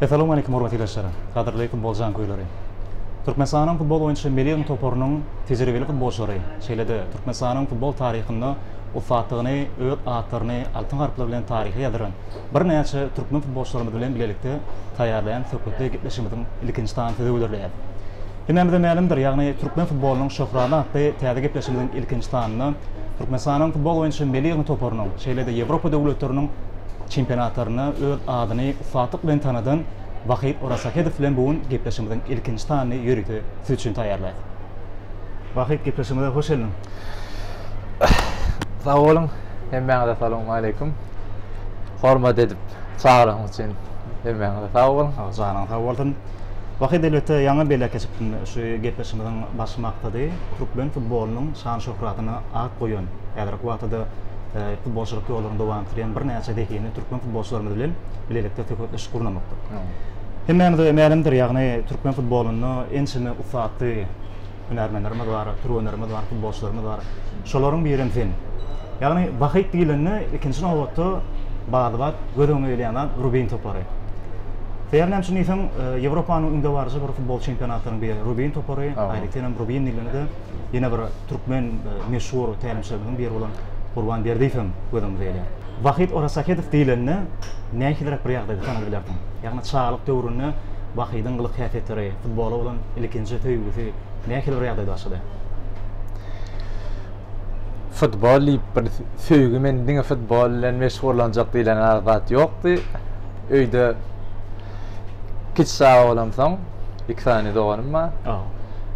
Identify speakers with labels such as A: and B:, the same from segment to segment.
A: Essalamu aleýkum hormatly ildeşler! Gadyrleýkum Boljan köýleri! Türkmenistanyň futbol boýunça milli ýygym toparynyň tejribeli futbolçylary, şeýle-de Türkmenistanyň futbol taryhynda ussatdygyny öz atlaryny altyn harplar bilen taryha ýazdyran birnäçe türkmen futbolçylarymyz bilen bilelikde taýýarlaýan söhbetdeş gepleşigimiziň ilkinji sany söze hödürleýäs. Hemmämize mälimdir, ýagny türkmen futbolynyň şöhraty atly täze gepleşigimiziň ilkinji sanynda Türkmenistanyň futbol boýunça milli ýygny toparynyň, şeýle-de Ýewropa döwletleriniň çempionatlarynda öz adyny ussatlyk bilen tanadan Wahyt Orasahedow bilen bu gün gepleşigimiziň ilkinji sanyny ýörite siz üçin taýýarlaýas. Wahyt, gepleşigimize hoş geldiň!
B: Sag boluň, hemmäňize salowmaleýkim. Hormat edip çagyryň üçin hemmäňize sag boluň. Janyň sag bolsun.
A: Wahyt elbetde ýaňy belek geçipdim. Şu gepleşigimiziň baş maksady türkmen futbolynyň şan-şöhratyna at goýan, häzirki wagtda-da futbolçylyk ýollaryny dowam etdirýän birnäçe zehinli türkmen futbolçylarymyz bilen bilelikde söhbetdeşlik gurnamakdyr. Hemmämize mälimdir, ýagny türkmen futbolynda ençeme ussatly hünärmenlerimiz bar, türgenlerimiz bar, futbolçylarymyz bar. Şolaryň birem sen. Ýagny Bahyt diýlende ikinji nobatda bady-bat göz öňüňe gelýän zat Rubin topary. Sebäbi näme üçin diýseň, e, Ýewropanyň öňdebaryjy bir futbol çempionatynyň biri Rubin topary, aýratyn hem Rubin diýlende ýene bir türkmen e, meşhur tälimçilerimiziň biri bolan Gurban Berdiýew hem göz öňümize gelýär. Bahyt Orasahedow diýlende nähiliräk bir ýagdaýda tanadyp bilersiň? Ýagny çagalyk döwründe Bahydyň gylyk-häsiýetleri, Futbola bolan ilkinji söýgüsi nähili bir ýagdaýda başlady?
B: Futbol diýip bir söýgi men diňe futbol bilen meşgullanjak diýlen zat ýokdy. Öýde kiçi çaga bolamsoň, iki sany doganym bar.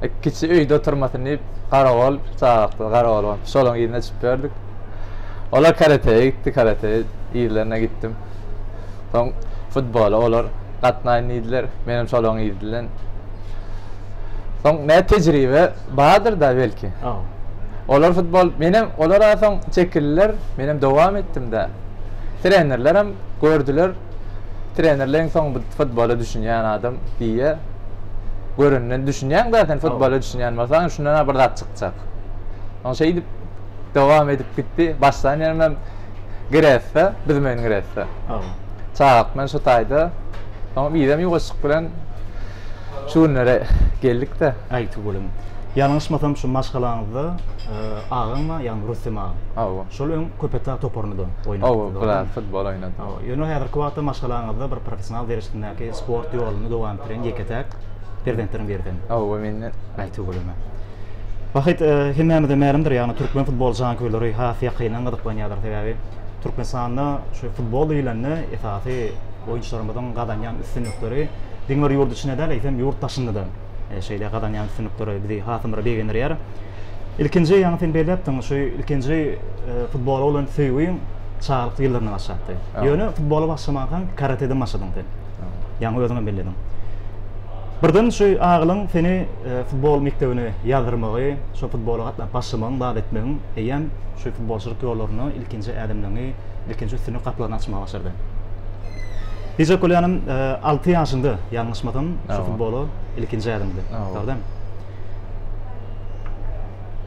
B: E, kiçi öýde oturmasyn diýip, garagol çagakdy, garagol bolup, şolaryň yzyna çykyp ýördik. Olar karateýe gitdi, karate yzlaryna gitdim. Soň futbola olar gatnaýyn diýdiler. Menem şolaryň yzyndan. Soň nä tejribe bardyr-da belki. Olar futbol, menem olara soň çekildiler, menem dowam etdim-de. Trenerlerem gördüler. Trenerleň soň bu futbola düşünýän adam diýýä. Görenden düşünýäň-de sen futbola düşünýän bolsaň, şundan-a bir zat çykjak. Soň şeýdip dowam edip gitdi. Başdan ýerimem Gresse, bizim öýüň Gresse. Çagak bilen şu taýda. Soň bizem ýuwaşjyk bilen şu günlere geldik-de. Aýtygülüm,
A: ýalňyşmasam şu maşgalaňyzda agaň bar, ýagny Rüstem aga. Hawa. Şol öň Köpetdag toparynda-da oýnapdy. Hawa, biraz futbol oýnady.
B: Hawa, ýöne häzirki wagtda
A: maşgalaňyzda bir professional derejesindäki sport ýoluny dowam etdirýän ýeke-täk perzentleriň biri sen. Hawa, men-de.
B: Aýtygülüm.
A: Bähbit hemmämize mälimdir, ýagny türkmen futbol janköýleri has ýakyndan gyzyklanýarlar, sebäbi Türkmenistanda şu futbol diýlende esasy oýunçylarymyzyň gazanýan üstünlikleri diňe bir ýurt içinde däl, eýsem ýurt daşynda-da şeýle gazanýan üstünlikleri bizi hasam begendirýär. Ilkinji, ýaňy sen belläpdiň, şu ilkinji futbola bolan söýgiň çagalyk ýyllarynda başlapdy. Ýöne futbola başlamankaň karateden başladyň sen. Ýaňy özüňem bellediň. Birden şu agylyň seni futbol mekdebine ýazdyrmagy, şo futbola gatnap başlamagyň bagt etmegiň eýýäm şu futbolçylyk ýollarynda ilkinji ädimleňi, ilkinji üstünlik gapylaryny açmaga başardy. Hiç-de bolýanym alty ýaşyňda, ýalňyşmasam, şu futbola ilkinji ädimdi. Dogrydan.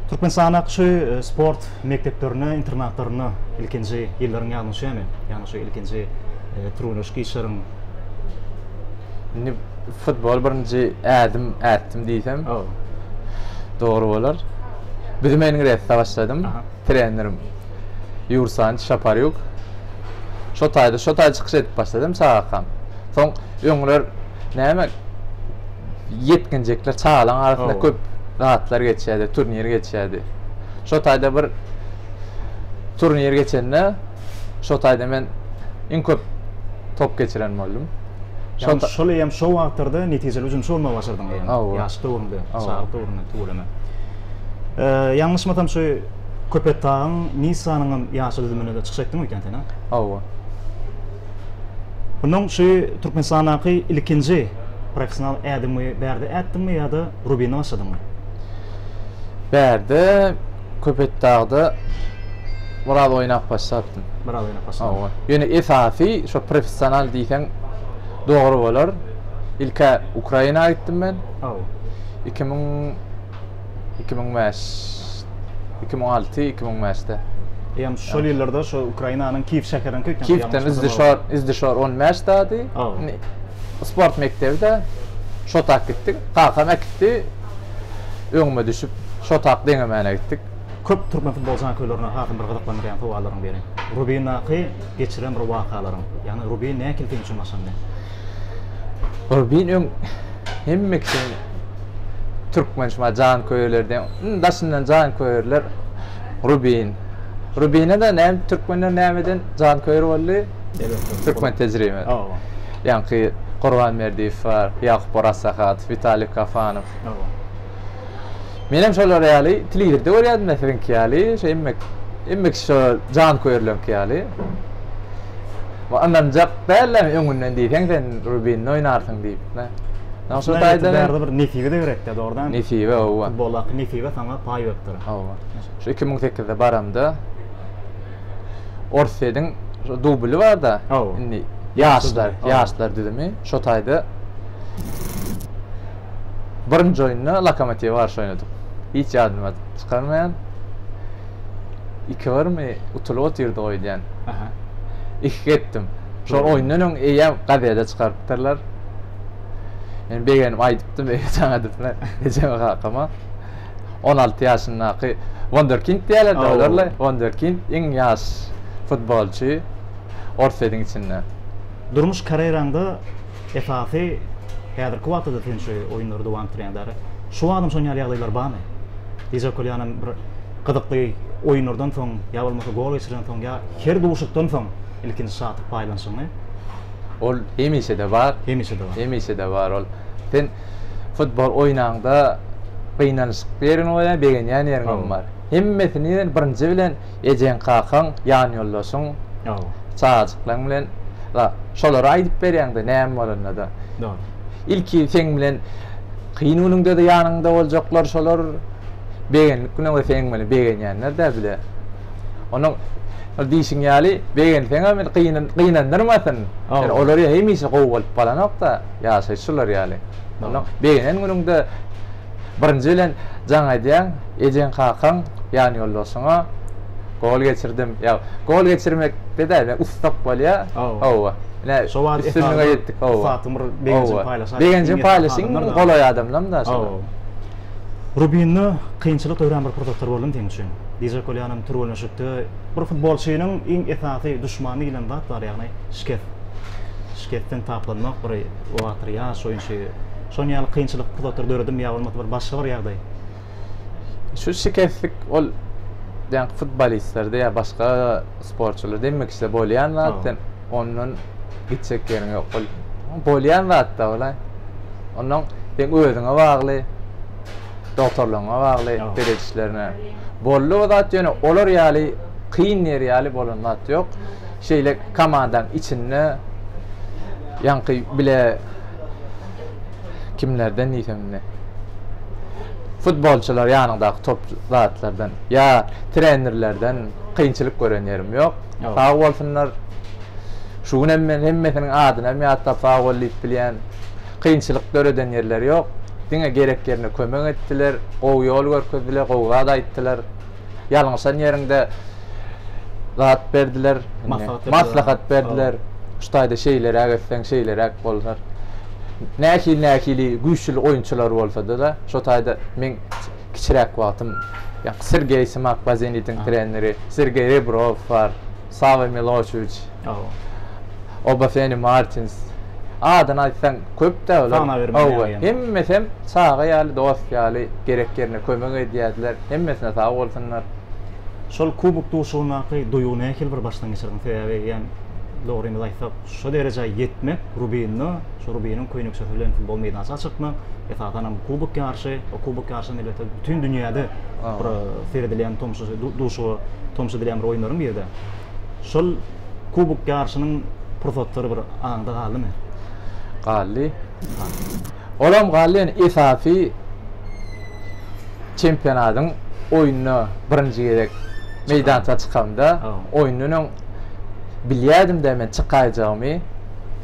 A: Türkmenistandaky şu sport mekdeplerine, internatlaryna ilkinji ýyllaryň ýadňa düşýärmi? Ýagny şu ilkinji türgenleşik işleriň. Indi
B: futbol birinji ädim ätdim diýsem. Dogry bolar. Bizim Engresde başladym. Trenerim Ýursan Şaparýuk. Şo taýda, şo taýda çykyş edip başladym çagakam. Soň öňler näme ýetginjekler çagalaryň arasynda köp zatlar geçýärdi, turnir geçýärdi. Şo taýda bir turnir geçende Şo taýda men iň köp top geçiren boldum. Şo şol
A: hem şo wagtlarda netijeli hüjümçi bolmagy başardyň diýýän. Ýaş döwründe, çagalyk döwründe tüweleme. Ýalňyşmasam şu Köpetdagyň, Nissanyň hem ýaşy düzüminde çykyş etdiň eken sen, hä? Hawa. Bundan şu Türkmenistandaky ilkinji professional ädiňi Bärde ätdiňmi ýa-da Rubinde başladyňmy? Bärde
B: Köpetdagda biraz oýnap başlapdym. Biraz oýnap başlapdym. Hawa.
A: Ýöne esasy
B: şo professional diýseň dogry bolar. Ilk-ä Ukraina gitdim men. Hawa. Iki müň, iki müň bäş, iki müň alty, iki müň bäşde. Eýýäm şol ýyllarda
A: şo Ukrainanyň Kiýew
B: şäheriniňki
A: ýa-da ýaňyş Kiýewden
B: Izdişor,
A: Izdişor on
B: bäş
A: dady. Hawa.
B: Sport mekdebi-de şo tak gitdik. Kakam äkitdi. öňüme düşüp, şotak deňemäne gitdik. Köp türkmen futbol
A: žanköylerini hasam bir gyzyklandyrýan sowallaryň biri, Rubindaky geçiren bir wakalaryň, ýagny Rubin nähili seň üçin başlandy?
B: Rubin öň hemme kişiniň türkmen şumaý žanköyerlerde iň daşyndan žanköýerler Rubin. Rubine-de näme türkmenler nämeden žanköýer boldy? Elbetde. Türkmen tejribesi. Hawa. Ýaňky Gurban Berdiýew bar, Ýakup Orazsahadow, Witaliý Kafanow. Menem şolar ýaly telewizorda görýädim-de siziňki ýaly, şo hemme hemme kişi şo janköýerleriňki ýaly. Bu ynanjak dälem öňünden diýseň sen Rubinde oýnarsyň diýip-de. Ýa şo taýdan bärde bir nesibe-de
A: gerek-dä, dogrydanam. Nesibe, hawa. Futboldaky
B: nesibe saňa
A: paý beripdir. Hawa. Şu iki müň
B: sekizde baramda Orsýediň dubly bar-da, indi ýaşlar, ýaşlar düzümi. Şo taýda birinji oýunda Lokomotiwe garşy oýnadyk. Hiç ýadyma çykarmaýan. Iki birmi utulyp otyrdyk öýdýän. Iki gepdim. Şol oýundan öň eýýäm gazede çykarypdyrlar. Men begenip aýdypdym, eýe jaň edipler ejeme kakama. On alty ýaşyndaky wonderkind diýýärler-de olarly, wonderkind, iň ýaş futbolçy Orsýetiň içinde. Durmuş
A: karýeraňda esasy häzirki wagtda-da sen şu oýunlary dowam etdirýäň däri. Şu wagtam şon ýaly ýagdaýlar barmy? Dijak Kolýanam bir gyzykly oýunlardan soň ýa bolmasa gol geçirenden soň ýa her duşuşykdan soň ilkinji şatlyk paýlanyşyňy. Ol
B: hemişe-de bar. Hemişe-de bar. Hemişe-de bar ol. Sen. Futbol oýnaňda gynanyşykly ýeriňem bolýar, begenýän ýeriňem bar. Hemmesini diýen birinji bilen ejeň-kakaň, ýanýoldaşyň, çagajyklaryň bilen şolara aýdyp berýäň-de näme bolanda-da. Ilki seň bilen kyn günüňde-de ýanyňda boljaklar şolar, begendik günüňde seň bilen begenýänler-de bile. Onuň şol diýşiň ýaly begenseňem indi gynandyrmasyn. Ýöne olar hemişe gowy bolup galanok-da. ýaşaýyş şular ýaly. Onda begenen günüňde birinji bilen jaň aýdýaň, ejeň-kakaň, ýan ýoldaşyňa gol geçirdim. Ýa gol geçirmekde däl, men ussat bolýar. Hawa. Ine, şo wagt üstünlige ýetdik. Hawa. Ussatlygyň bir begenjini paýlaşaýyň. Begenjini paýlaşaýyň, golaý adamlaram da. Hawa. Rubinda kynçylyk dörän bir pursatlar boldumy seň üçin? Di Žakolýanyň türgenleşikde bir futbolçynyň iň esasy duşmany diýlen zat bar, ýagny şikes. şikesden taplanmak, bir oator ýaş oýunçy şonuň ýaly kynçylyk pursatlar döredimi ýa bolmasa bir başga bir ýagdaý? Şu şikeslik ol ýaňky futbolistlerde ýa başga sportçylarda hemme kişide bolýan zat, sen ondan gitjek ýeriň ýok. Ol bolýan zat-da ol-a. Ondan seň özüňe bagly, dogtorlaryňa bagly seredişlerine. Boldy o zat ýöne olar ýaly kyn ýeri ýaly bolan zat ýok. Şeýle komandaň içinde ýaňky bile kimlerden diýsem indi. Futbolçylar ýanyňdaky top zatlardan ýa trenerlerden kynçylyk gören ýerim ýok. Sag bolsunlar. Şu gün hem men hemmesiniň adyny hem ýatlap sag bol diýip bilýän. Kynçylyk döreden ýerleri ýok. Diňe gerek ýerine kömek etdiler, gowy ýol görkezdiler, gowy zat aýtdylar. Ýalňyşan ýeriňde zat berdiler, maslahat berdiler. Şu taýda şeýleräk etseň, şeýleräk bolar. Nähili-nähili güýçli oýunçylar bolsa-da, şu taýda meň kiçiräk wagtym Sergeý Smak, Bazenitiň treneri, Sergeý Rebrow bar. Sawol Miloşewiç. Hawa. Obafeni Martins. Adyny aýtsaň köp-dä olar. Sanaw bermän ýaly ýaňy. Hemmesem çaga ýaly, dost ýaly, gerek ýerinde kömek edýärdiler. Hemmesine sag bolsunlar. Şol kubok duşugyndaky duýgy nähili bir başdan geçirdiň? Sebäbi ýa-ni dogrymyzy aýtsak, şu derejä ýetmek Rubinno, şu Rubiniň köýnekçesi bilen futbol meýdançasyna çykmak, esasan hem kubok ýaryşy, o kubok ýaryşy elbetde bütin dünýäde bir seredilýän tomus, duşuşyga tomus edilýän bir oýunlaryň biri-de. Şol kubok ýaryşynyň pursatlary bir aňyňda galdymy? Galdy. Olam Gallen esasy çempionatyň oýnuna birinji gezek meýdança çykamda, oýundan öň bilýärdim-de men çykaýjagymy.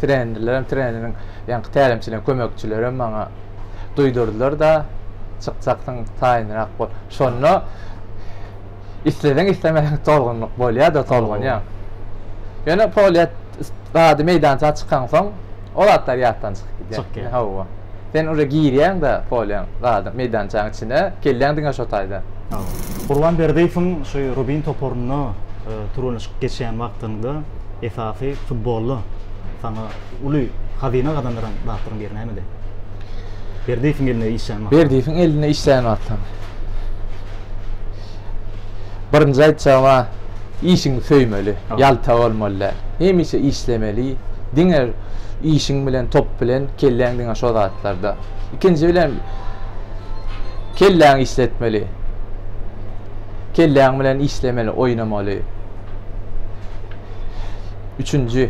B: Trenerlerem, treneriň ýaňky tälimçileriniň kömekçilerem maňa duýdurdylar-da, çykjaksyň, taýynrak bol. Şonda isleseň-islemeseň tolgunlyk bolýar-da, tolgunýaň. Ýöne polýa zady meýdança çykaňsoň. O zatlar ýatdan çykyp gidýär. Çykyp gidýär. Hawa.
A: Sen uje
B: girýäň-de polýaň, zadam, meýdançaň içine, kelläň diňe şo taýda. Hawa. Gurban
A: Berdiýewiň şu Rubin toparynda türgenleşik geçýän wagtyňda esasy futbolda saňa uly hazyna gazandyran zatlaryň biri nämedi? Berdiýewiň elinde işlän wagtyň. Berdiýewiň elinde işlän
B: wagtyň. Birinji aýtjagym-a, işiňi söýmeli, ýalta bolmaly däl. Hemişe işlemeli, diňe işiň bilen, top bilen, kelläň diňe şo zatlarda. Ikinji bilen, kelläňi işletmeli. Kelläň bilen işlemeli, oýnamaly. Üçünji,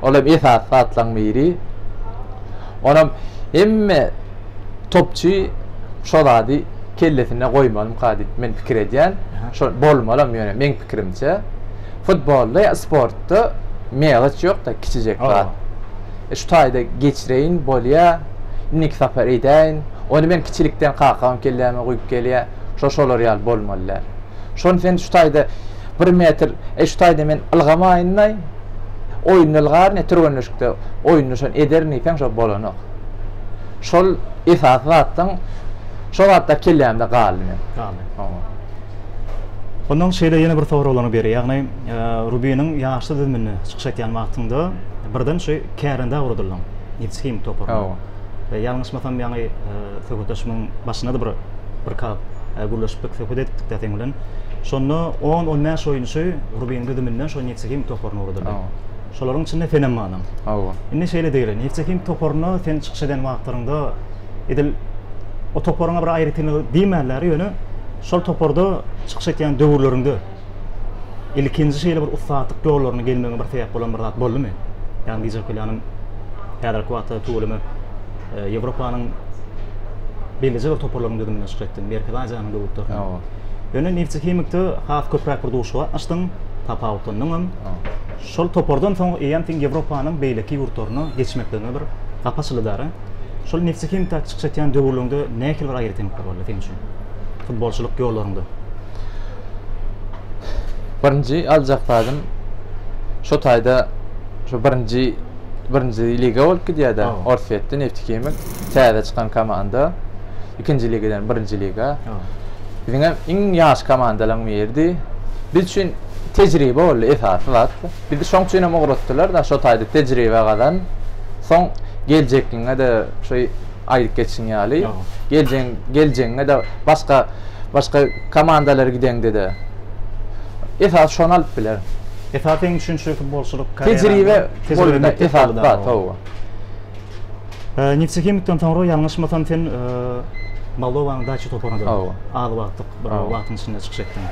B: ol hem esasy zatlaryň biri. Onam hemme topçy şo zady kellesine goýmalymyka diýip men pikir edýän. Şo bolmalam ýöne meň pikirimçe. Futbolda ýa sportda meýgiç ýok-da kiçijek zat. E şu taýda geçireýin bolýa. Indiki sapar edäýin. Ony men kiçilikden kakam kelläme guýup gelýä. Şo şolar ýaly bolmaly däl. Şony sen şu taýda Bir metr e şu taýda men ylgamaýynlaý oýunda ylgaryn e türgenleşikde oýunda şony ederin diýseň şo bolanok şol esasy zatdan şo zatda kellämde galdy men galdy
A: Ondan şeýle ýene bir soraglaryňy beri ýagny Rubiniň ýaşly düzüminde çykyş etýän wagtyňda birden şu kärendä ugradyldyň Nifthim toparyna. Ýalňyşmasam ýaňy söhbetdeşimiň başynada bir bir kap gürleşipdik, söhbet edipdik-de seň bilen. Şonda on, on bäş oýunçy Rubiniň düzüminden şo Neftekim toparyna ugradyldy. Şolaryň içinde senem bardym. Hawa. Indi şeýle diýeli, Neftekim toparyna sen çykyş eden wagtlaryňda edil o toparyňa bir aýratynlygy diýmänler, ýöne şol toparda çykyş etýän döwürleriňde, ilkinji şeýle bir ussatlyk ýollaryna gelmegiňe bir sebäp bolan bir zat boldumy? Ýagny Dijer Kölýanyň häzirki wagtda tüweleme e, Ýewropanyň belleje bir toparlarynyň düzüminde çykyş etdiň, Merkezi Aziýanyň döwletlerinde. Ýa. Ýöne Neftekhimikde has köpräk bir duşuşyk gatnaşdyň, tapawutlandyň hem. Şol topardan soň eýýäm sen Ýewropanyň beýleki ýurtlaryna geçmekligiňe bir gapy açyldy dara. Şol Neftekhimikde çykyş etýän döwürleriňde nähili bir aýratynlyklar boldy seniň üçin? Futbolçylyk ýollaryňda.
B: Birinji aljak zadym şu taýda şu birinji birinji liga bolup gidýär-de, Orsýetde Neftikimik täze çykan komanda. Ikinji ligadan birinji liga. Biziň hem iň ýaş komandalaryň biridi. Biz üçin tejribe boldy esasy zat. Bizi şoň üçin hem ugratdylar-da, şu taýda tejribe gazan. Soň geljekligiňe-de şu aýdyp geçiň ýaly. Geljeň, geljeňde-de başga başga komandalara gideňde-de esas şony alyp biler. Esas seň üçin
A: şu futbolçylyk Tejribe
B: bolanda esas zat hawa.
A: Nefsehimikden soňra ýalňyşmasam sen Moldowanyň Daçi toparyna hawa az wagtlyk bir wagtyň içinde çykyş etdiň.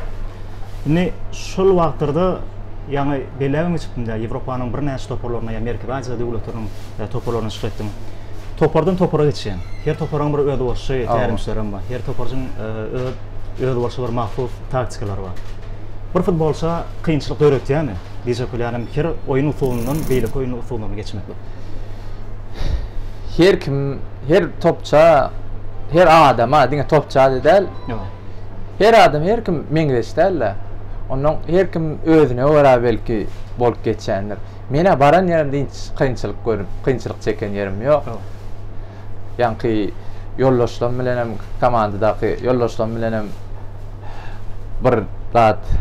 A: Indi şol wagtlarda ýaňy belläp hem geçipdim-de Ýewropanyň birnäçe toparlaryna ýa Merkezi Aziýa döwletleriniň toparlaryna çykyş etdiň. Topardan topara geçýän. Her toparyň bir özboluşy tälimçileri hem bar. Her toparjyň öz özboluşy bir mahsus taktikalary bar. Bir futbolça kynçylyk döretýärmi? Dije Kulýanym her oýun usulyndan beýleki oýun usullaryna geçmeklik.
B: Her kim, her topça, her adama, diňe topça diýip däl. Her adam, her kim meňzeş däl-de. Ondan her kim özüne görä belki bolup geçýändir. Men-ä baran ýerimde hiç kynçylyk görüp, kynçylyk çeken ýerim ýok. Ýaňky ýoldaşlarym bilen hem, komandadaky ýoldaşlarym bilen hem bir zat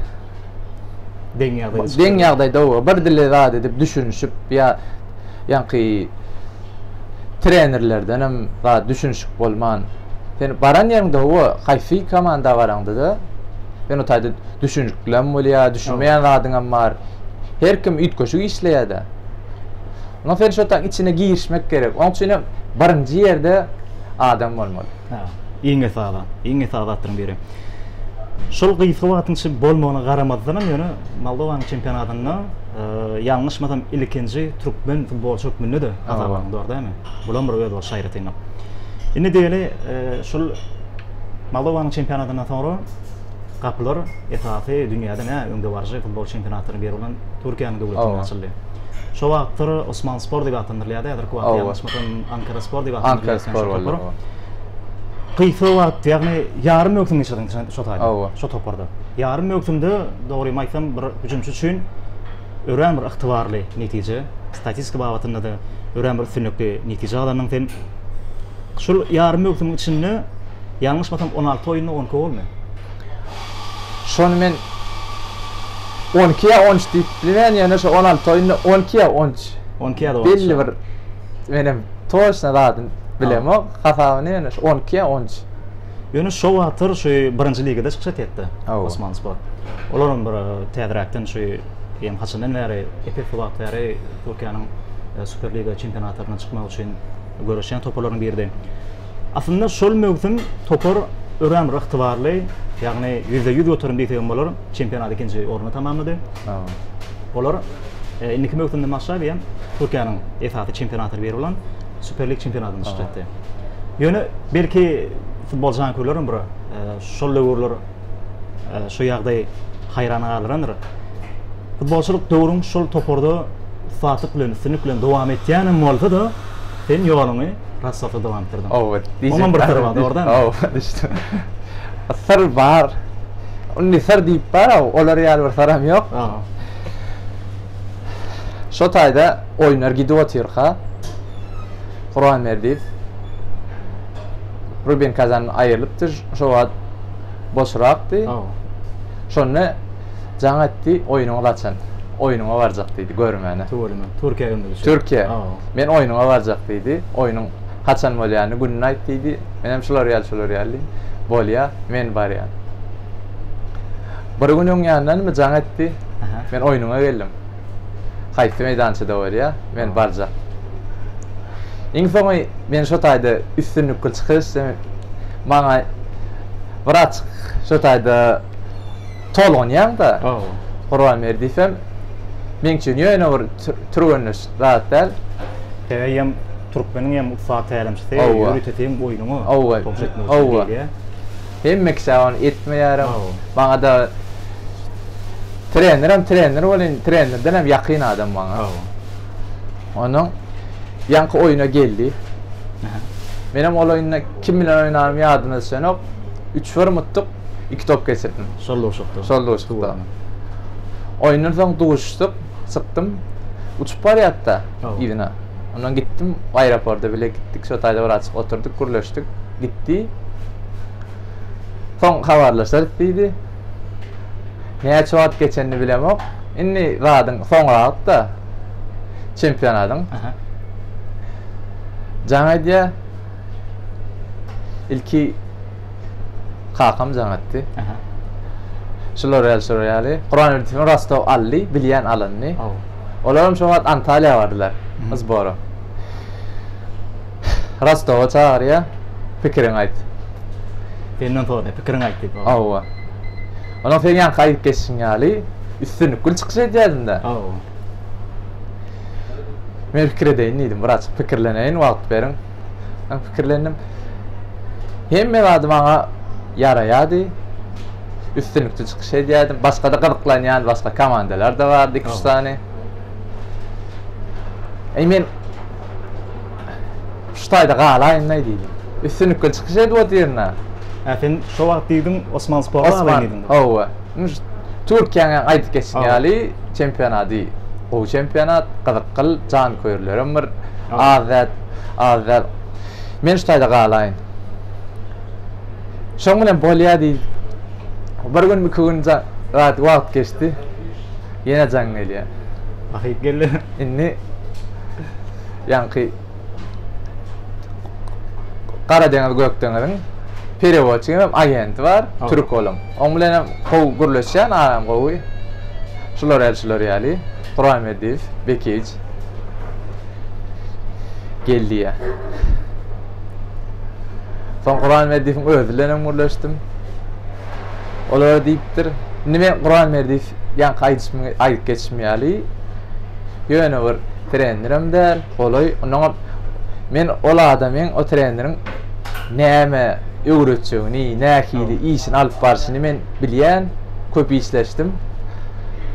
B: deň ýagdaýda çykyp Deň ýagdaýda oba, bir dili zat edip düşünişip ýa ýaňky trenerlerden hem zat düşünişik bolman. Sen baran ýeriňde oba, haýsy komanda baraňda-da, sen o taýda Düşüniklim bolýar, düşünmeýän zadyňam bar. Her kim üýtgeşik işleýär-de. Onda sen şo taň içine girişmek gerek. Oň üçin hem birinji ýerde adam bolmaly. Ha, iň esasy,
A: iň esasy zatlaryň biri. Şol gysga wagtyň içinde bolmagyna garamazdan hem ýöne Moldowanyň çempionatynda ýalňyşmasam ilkinji türkmen futbolçy hökmünde-de hasaplandy, dogry dälmi? Bul hem bir öz bolşy aýratynlyk. Indi diýeli, şol Moldowanyň çempionatyndan soňra gapylar esasy dünýäde nä öňdebaryjy futbol çempionatlaryny ber bolan Türkiýäniň döwletinde açyldy. Şo wagtlar Osman Spor diýip atlandyrylýardy, häzirki wagtda ýalňyşmasam Ankara Spor diýip atlandyrylýar. Gysga wagt, ýagny ýarym möwsüm geçirdiň şo taýda, şo toparda. Ýarym möwsümde dogrymy aýtsam bir hüjümçi üçin örän bir ygtybarly netije. Statistika babatynda-da örän bir üstünlikli netije galanyň sen. Şul ýarym möwsümiň içinde ýalňyşmasam on alty oýunda on iki golmy?
B: Şony men on iki ýa on üç diýip bilmen, ýöne şo on alty oýunda on iki ýa on üç. On iki ýa on üç. Belli
A: bir
B: menem toçna zadyny bilemok, hasabyny ýöne şo on iki ýa on üç. Ýöne şo
A: wagtlar şu birinji ligada çykyş etýetdi. Osman Spor. Olar hem bir e, täzeräkden şu hem haçandan bäri epis wagt bäri Türkiýäniň e, Super Liga çempionatlaryna çykmak üçin göreşýän toparlaryň biridi. Aslynda şol möwsüm topar örän bir ygtybarly, ýagny %100 göterim diýsek hem bolar, çempionat ikinji orunda tamamlady. Olar e, indiki möwsümden başlap hem Türkiýäniň esasy çempionatlary biri bolan Süper Lig çempionatynda çykyş etdi. Ýöne belki futbol janköýerleriň bir e, şol döwürler e, şu ýagdaý haýran galdyrandyr. Futbolçylyk döwrüň şol toparda ussatlyk bilen, üstünlik bilen dowam etýänem bolsa-da, sen ýoluňy Rassafda dowam etdirdiň. Owa, diýjek. bir tarap, dogrudanmy? Owa, düşdi.
B: Syr bar. Indi syr diýip bar, olar ýaly bir syram ýok. Şo taýda oýnar gidip otyrka, Guran Berdiýew Ruben Kazan aýrylypdy. Şo wagt boşrakdy. Şonda jaň etdi, oýnuňy gaçan. Oýnuňa barjak diýdi, görmäne. Tuweleme, Türkiýä gönderdi
A: şo. Türkiýä. Men
B: oýnuňa barjak diýdi. Oýnuň haçan bolýany, gününi aýt diýdi. Menem şular ýaly, şular ýaly diýdim. Bolýa, men barýan. Bir gün öňýandanmy jaň etdi. Men oýnuňa geldim. Haýsy meýdançada bolýa, men barjak. Iň soňy men şo taýda üstünlikli çykyş etdim. Maňa wraç şo taýda tolgunýaň-da, Gurbanberdiýew hem meň üçin ýöne bir türgenleş zat däl. Sen eýýäm
A: türkmeniň hem ussat tälimçisi, ýörite seň oýnuňa togşetmek üçin diýdi.
B: Hemme kişä ony etmeýärin. Maňada trenerem trener welin trenerden hem ýakyn adam maňa. Onuň ýaňky oýuna geldi. Menem ol oýunda kim bilen oýnanym ýadyma düşenok. Üç bir mutdyk, iki top geçirdim. Şol duşukda. Şol
A: duşukda.
B: Oýundan soň duşuşdyk, çykdym. Uçup barýarda yzyna. Ondan gitdim, aeroporta bile gitdik. Şo taýda bir açyk oturdyk, gürleşdik. gitdi. Soň habarlaşarys diýdi. Näçe wagt geçenini bilemok. Indi zadyň soňragyk-da çempionatyň. Jaň edýär. Ilki kakam jaň etdi. Şular ýaly, şular ýaly. Guranberdiýewiň Rostow aldy, bilýän alanyny. Olar hem şo wagt Antaliýa bardylar, zbora. Rostowa çagyrýar. Pikiriňi aýt.
A: Senden soraýar, pikiriňi aýt diýip. Hawa.
B: Onuň seň ýanka aýdyp geçişiň ýaly üstünlikli çykyş edýädin-dä. Hawa. Men pikir edeýin diýdim. Bir açyk pikirleneýin, wagt beriň. Men pikirlendim. Hemme zady maňa ýaraýardy. Üstünlikli çykyş edýärdim. Başga-da gyzyklanýan başga komandalar-da bardy, iki-üç sany. Eý, men Şu taýda galaýynlaý diýdim. Üstünlikli çykyş edip otyryn-a. Hä, sen şo
A: wagt diýdiň, Osmansporda galaýyn diýdiň. Hawa. Indi şu
B: Türkiýäň hem aýdyp geçen ýaly çempionady gowy çempionat, gyzykly, janköýerlerem bir az däl, az däl. Men şu taýda galaýyn. Şoň bilen bolýa diýdim. Bir gün, iki gün gaty wagt geçdi. Ýene jaň gelýär. Bahyp geldi.
A: Indi
B: ýaňky Gara deňiz Gök deňiziň perewodçigi hem agenti bar, türk olam. Oň bilen hem gowy gürleşýän, aram gowy. Şular ýaly, şular ýaly. Gurahmediýew, Bekiç. Geldi ýa. Soň Gurahmediýewiň özi bilen hem gürleşdim. Olar diýipdir, Nime Gurahmediýew ýaňky aýdyşymy aýdyp geçişim ýaly, ýöne bir trenerem däl, golaý. Onnoňam men ol adamyň, o treneriň näme öwretjegini, nähili işini alyp barşyny men bilýän, köp işleşdim.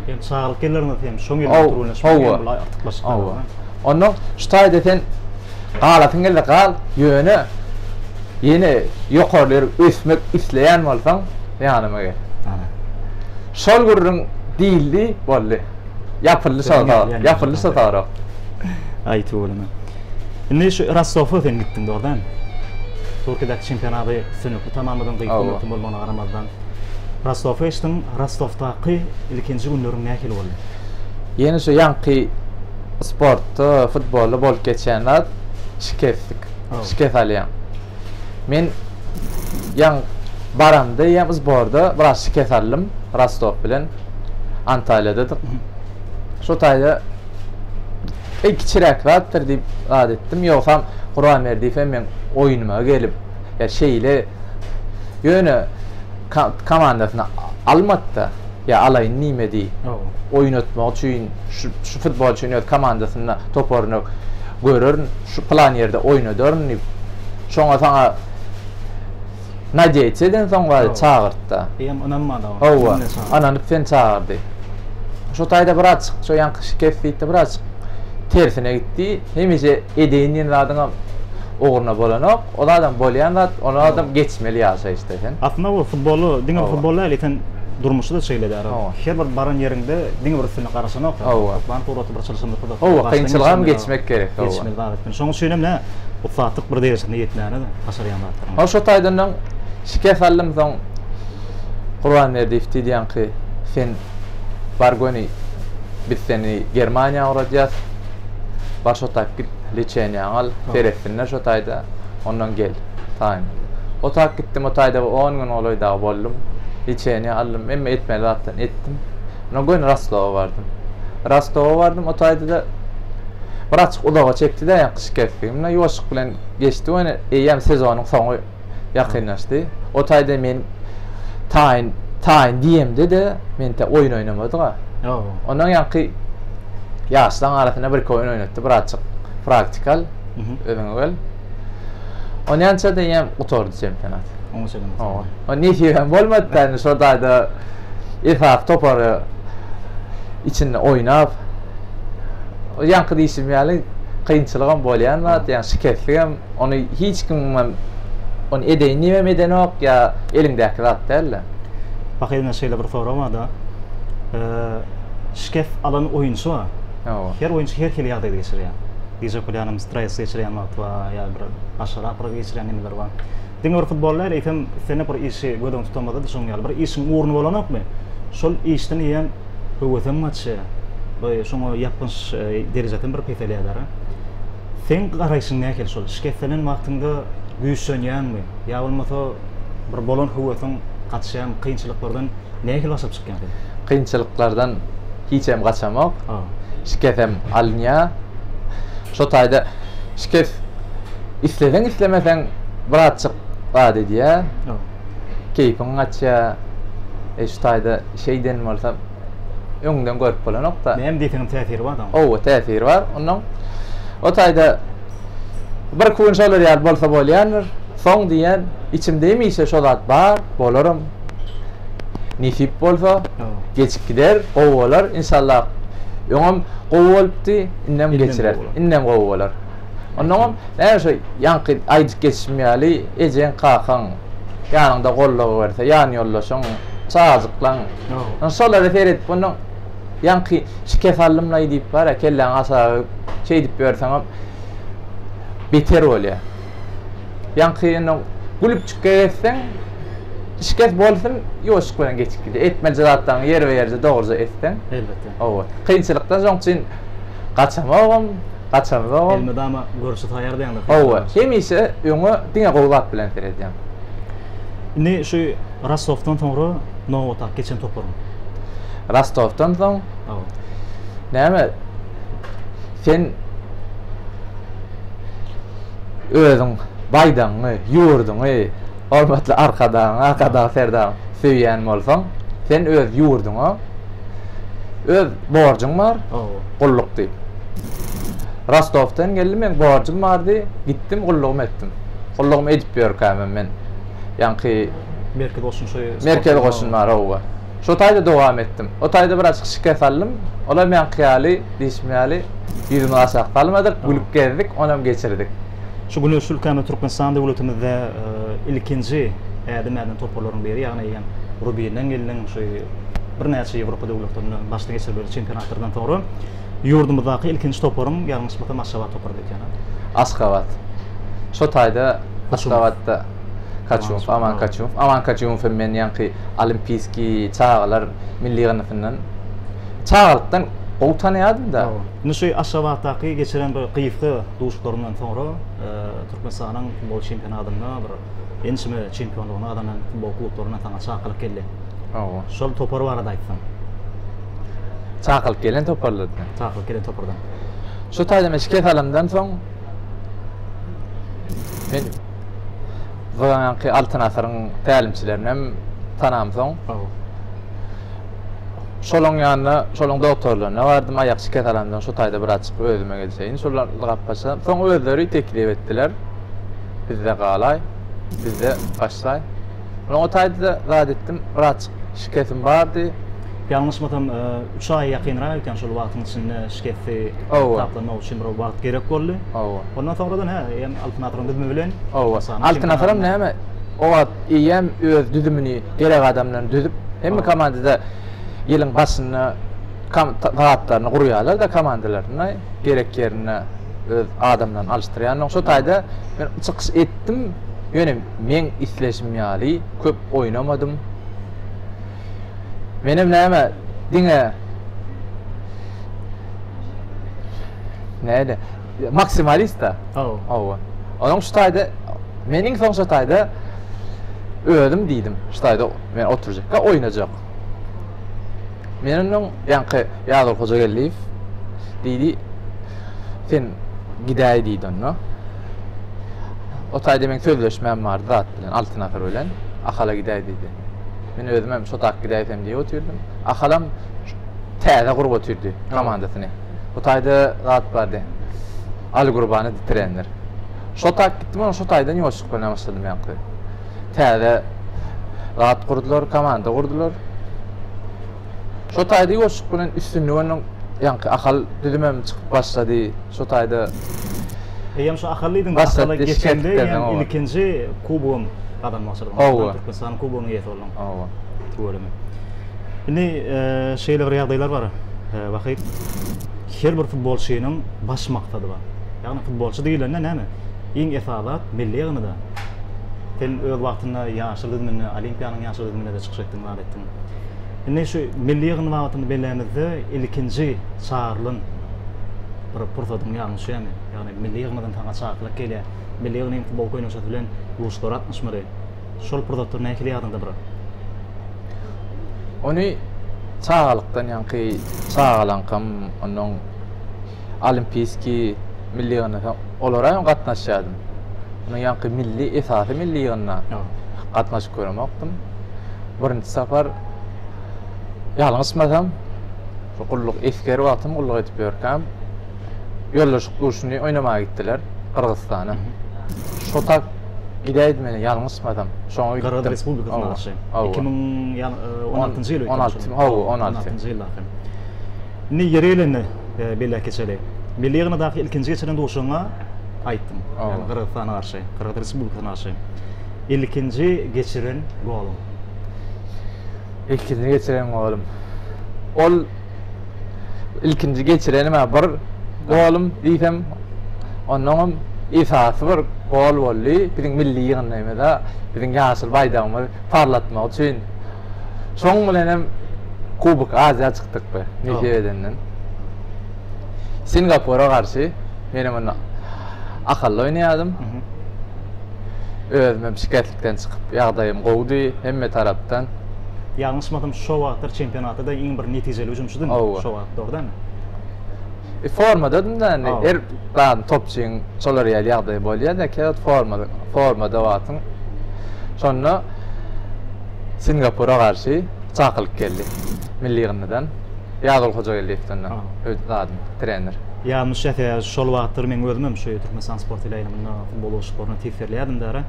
B: Ýöne
A: çagalyk ýyllarynda sen şoň ýyl bilen turuňlaşmaly, ýöne bular artykmaçlyk. Onnoň
B: şu taýda sen Galasyň geldi gal, ýöne ýene ýokary ýere ösmek isleýän bolsaň, ýanyma gel. Şol gürrüň diýildi, boldy. Ýapyldy şol zat, ýapyldy şol sorag. Aýt oglum. Indi
A: şu Rossowa sen gitdiň, dogrudanmy? Türkiýedäki çempionaty sönükli tamamladyň, gyýyk gymmatyň bolmagyna garamazdan. Rossowa geçdiň, Rostowdaky ilkinji günleriň nähili boldy? Ýene şu
B: ýaňky Sportda, futbolda bolup geçýän zat şikeslik. Şikes alýaň. Men ýaňy baramda eýýäm sborda biraz şikes aldym. Rostow bilen Antalýadadyk. Şo taýda eý kiçiräk zatdyr diýip zat etdim. Ýogsam Gurbanberdiýew hem meň oýnuma gelip, ýa şeýle ýöne komandasyna almady-da. Ýa alaýyn nimedi? Oýnatmak üçin şu futbolçyny öz komandasynda, toparyna görerin, şu plan ýerde oýnadaryn diýip, şoňa saňa nadýa etse eden soň bari çagyrt-da. Eýýäm ynanmady oňa.
A: Hawa, ynanyp
B: seni çagyrdy. Şo taýda birazjyk şo ýaňky şikes diýip-de birazjyk tersine gitdi. Hemişe edeýin diýen zadyňam ugruna bolanok. Ol adam bolýan zat, ol adam geçmeli ýaşaýyşda sen. Aslynda bu futboly,
A: diňe bir futbol däl, eýsem durmuşy da şeýle däl. Her bir baran ýeriňde diňe bir üstüne garaşanok. Toparyň suraty bir çylşyrymly. Hawa, kynçylygam geçmek
B: gerek. Geçmeli zat. Şonuň
A: üçin hem näme, ussatlyk bir derejesine ýetmäne-de, başarýan zatlaryň. Hany şo taýdanam
B: şikes aldym, soň Gurbanberdiýew diýýänki, sen bar göni, biz seni Germaniýa ugradýas, bar şo taýyp git. Liçeniýaňy al, seretsinler şo taýda, ondan gel, taýyn. O tak gitdim, o taýda bir on gün golaý dagy boldum. Liçeniýa aldym, hemme etmeli zatlaryny etdim. Ondan göni Rostowa bardym. Rostowa bardym, o taýda-da bir açyk uzaga çekdi-de, ýa gyş kesdi. Ýuwaşlyk bilen geçdi, ýöne eýýäm sezonyň soňy. ýakynlaşdy. O taýda men taýyn, taýyn diýemde-de men tä oýun oýnamadyk-a. Ondan ýaňky ýaşlaň arasynda birki oýun oýnatdy, bratjyk, praktika al, özüňe gel. Onýança diýýän gutardy çempionat. Oňa çenli gutardy. O nesibem bolmady da, indi şol taýda esasy topary içinde oýnap, ýaňky diýşim ýaly kynçylygam bolýan zat, ýa şikesligem. Ony hiç kimem ony edeýin diýibem edenok ýa eliňdäki zat dälde. Pahyr ine
A: şeýle bir sorag barda, şikes alan oýunçy bar. Her oýunçy her hili ýagdaýda geçirýär. Diýjek bolýanym stres geçirýän wagty bar, ýa bir aşyrak bir geçirýän nemeleri bar. Diňe bir futbol däl, eýsem islendik bir işi göz öňüňde tutamyzda-da şonuň ýaly bir işiň ugruna bolanokmy, şol işden eýýäm höwesiň gaçýar we şoňa ýapgynç derejesem bir peselýär däl. Seň garaýşyň nähili şol şikestlenen wagtyňda güýçlenýäňmi ýa bolmasa bir bolan höwesiň gaçýamy kynçylyklardan nähili başa çykýaň sen? Kynçylyklardan
B: hiçem gaçamok. Şikesem alynýa. Şo taýda şikes isleseň islemeseň birazjyk zat edýä. Keýpiň gaçýa. E şu taýda şeýden bolsa öňden görüp bolanok-da. Näme diýseňem täsiri bar
A: da. Oba, täsiri bar. Onnoň
B: o taýda birki gün şolar ýaly bolsa bolýandyr. Soň diýýän, içimde hemişe şo zat bar, bolaram. Nesip bolsa, geçip gider, gowy bolar, inşallah. Öňem gowy bolupdy, indem geçirer. Indem gowy bolar. Onnoňam näme şo ýaňky aýdyp geçişim ýaly, ejeň, kakaň, ýanyňda goldaw berse, ýan ýoldaşyň, çagajyklaň. Ýa. Şolara seredip onuň ýaňky şikes aldymlaý diýip bar ýa kelläňi aşagy şeýdip ýörseňem beter bolýa. Ýaňky indi gülüp çykýa gezseň şikes bolsun ýuwaşlyk bilen geçip gidýär. Etmeli zatlaryňy ýerbe-ýerje dogryja etseň. Elbetde. Hawa.
A: Kynçylykdan
B: şoň üçin Gaçamogam, gaçamzogam.
A: Elmydama görşe taýar diýendir. Hawa, hemişe öňe
B: diňe gowy zat bilen seredýän.
A: Indi şu Rostowdan soňra nobatdaky geçen toparyň. Rostowdan
B: soň? Hawa. Näme? Sen özüň baýdagyňy, ýurduňy, hormatly Arkadagyňy, Arkadag Serdaryňy söýýän bolsaň, sen öz ýurduňa öz borjuň bar, gulluk diýip. Rostowdan geldim, men borjum bardy, gitdim, gullugymy etdim. Gullugymy edip ýörkämem men ýaňky Merkezi goşun şeý. Merkezi goşun bar, hawa. Şo taýda dowam etdim. O taýda bir açyk şikes aldym. Olam ýaňky ýaly, diýşim ýaly, ýüzümizi aşak salmadyk, gülüp gezdik, onam geçirdik. Şu güneşli
A: ülkämiz Türkmenistan döwletimizde ilkinji ädim äden toparlaryň biri, ýagny hem Rubiniň iliniň şu birnäçe Ýewropa döwletlerinde başdan geçirip ýören çempionatlardan soňra. Ýurdumyzdaky ilkinji toparyň ýalňyşmasam Aşgabat toparydy ekeni.
B: Aşgabat. Şo taýda Aşgabatda Kaçumow, Aman Kaçumow. Aman Kaçumow hem meni ýaňky Olimpiýskiý çagalar milli ýygyndysyndan çagalykdan gowy tanaýardym-da. Indi şu Aşgabatdaky
A: geçiren bir gysga duşuşyklaryndan soňra Türkmenistanyň futbol çempionatynda bir ençeme çempionlygyny gazanan futbol klublaryndan saňa çakylyk geldi. Hawa. Şol topar barada aýtsaň. Çakylyk
B: gelen toparlardan. Çakylyk gelen topardan.
A: Şu taýdan
B: şikes alandan soň men Zoýanky Altyn Asyryň tälimçilerini hem tanam soň. Şolaryň ýanyna, şolaryň doktorlaryna bardym, aýak şikes alandan şu taýda bir açyp özüme gelseýin. Şolar gapyşan. Soň özleri teklip etdiler. Bizde galaý, bizde başlaý. Oňa taýda-da zat etdim, birazjyk şikesim bardy. Ýalňyşmasam,
A: üç aýa ýakynrak eken şol wagtyň içinde şikesi taplanmak üçin bir wagt gerek boldy. Hawa. Ondan soňradan hä, eýýäm Altyn Asyryň düzümi bilen. Hawa. Altyn Asyram
B: näme, o wagt eýýäm öz düzümini gerek adam bilen düzüp, hemme komandada ýylyň başynda zatlaryny gurýarlar-da komandalaryna, gerek ýerinde öz adamlaryny alyşdyrýarlar. Şo taýda men çykyş etdim, ýöne. meň isleşim ýaly köp oýnamadym. Menem näme, diňe näde, maksimalist-da. Haw. Hawa. Onuň şu taýda men iň soň şu taýda özüm diýdim, şu taýda men oturjakka oýnajak. Menden öň ýaňky Ýazgyl Hojageldiýew diýdi, Sen gidäý diýdi onda. O taýda meň sözleşmäm bardy zat bilen, Altyn asyr bilen. Ahala gidäý diýdi. Men özüm hem şotak gidäýsem diýip otyrdym. Ahalam täze gurup otyrdy komandasyny. Bu taýda zat bardy. Alygurbany bitirenler. Şotak gitdim, onsoň şo taýdan ýolçylyk bilen başladym ýaňky. täze zat gurdular, komanda gurdular. Şo taýda ýoşuk bilen üstünlik onuň ýaňky Ahal düzümem çykyp başlady. Şo taýda Eýýäm
A: şu Ahal diýdiň, Ahal geçende ýa ilkinji kubogym gazanmak çyrdym. Hawa. Türkmenistan kubogynyň eýesi boldum. Hawa. Tuweleme. Indi şeýle bir ýagdaýlar bar. Wahyt. Her bir futbolçynyň baş maksady bar. Ýagny futbolçy diýlende näme? Iň esasy milli ýygyndyda. Sen öz wagtynda ýaşyl düzüminde, Olimpiýanyň ýaşyl düzüminde-de çykyş etdiň, zat etdiň. Indi şu milli ýygyn wagtyny bellämizde ilkinji çagyrylan bir pursatyň ýadyňa düşýärmi? Ýagny milli ýygymyzdan saňa çakylyk gelýär. Milli ýygynyň futbol goýnaçasy bilen duşgara gatnaşmaly. Şol pursatlar nähili ýadyňda bir?
B: Ony çagalykdan ýaňky çagalaňkam ondan Olimpiýskiý milli ýygyndy. Soň olara hem gatnaşýardym. Munuň ýaňky milli, esasy milli ýygyndyna gatnaşyp göremokdym. Birinji sapar ýalňyşmasam, şu gulluk esger wagtym gulluk edip ýörkäm, ýoldaşlyk duşuny oýnamaga gitdiler Gyrgyzystana. Şo tak gidäýdi meni ýalňyşmasam. Şoňa gitdim. Gyrgyz Respublikasyna garşy.
A: Iki müň on altynjy ýyl öýtýän şol. On alty, hawa, on alty. On altynjy ýylda. Indi ýeri gelende, e, belläp geçeli. Milli ýygyndadaky ilkinji geçilen duşuňa aýtdyň. Yani Gyrgyzystana garşy, Gyrgyz Respublikasyna garşy. Ilkinji geçiren goluň. Ilkinji
B: geçiren golum. Ol ilkinji geçirenim ha bir golum diýsem ondan hem esasy bir gol boldy. Biziň milli ýygyndymyzda biziň ýaşyl baýdagymyzy parlatmak üçin Şoň bilen hem Kubok Aziýa çykdyk be, Medýa edenden. Singapura garşy men hem onda akylly oýnaýardym. Özüm hem şikeslikden çykyp, ýagdaýym gowudy hemme tarapdan. Ýalňyşmasam,
A: şo wagtlar çempionatda-da iň bir netijeli hüjümçidiň, şo wagt, dogry dälmi? E formada
B: da indi her zady topçyň şolar ýaly ýagdaýy bolýar da käwagt formada formada wagtyň şonda Singapura garşy çakylyk geldi milli ýygyndydan Ýazgül Hojageldiýewden de öz zadym trener. Ýadyma düşýä
A: şol wagtlar meň özüm hem şu Türkmenistan sport ile aýlymynda futbol oguşlyklaryna tys berlýärdim dara.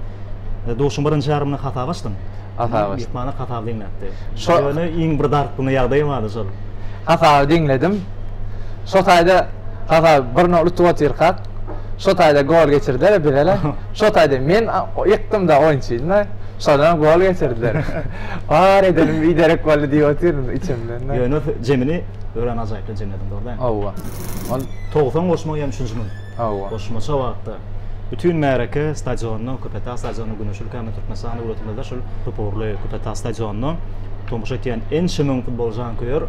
A: Duşuň birinji ýarymyny hasaba açdym. hasaby. Myhmana hasaby diňläpdi. Ýöne iň bir dartgyn ýagdaý bardy şol. Hasaby diňledim.
B: Şo taýda hasaby bir nol utup otyrkak, şo taýda gol geçirdiler-ä bire-le. Şo taýda men ýykdym-da oýunçyny. Şonam gol geçirdiler. Bar edenim biderek boldy diýip otyryn içimden. Ýöne jemini
A: örän ajaýyply jemlediň, dogrudanmy? Hawa. Ol
B: togsan
A: goşmagy hem üçünji müň. Hawa. Goşmaça
B: wagtda
A: bütin märeke stadionyna, Köpetdag stadionyna Güneş ülkämiz Türkmenistana öwretilmezde şul toparly Köpetdag stadionyna tomaşa etýän ençe müň futbol janköýer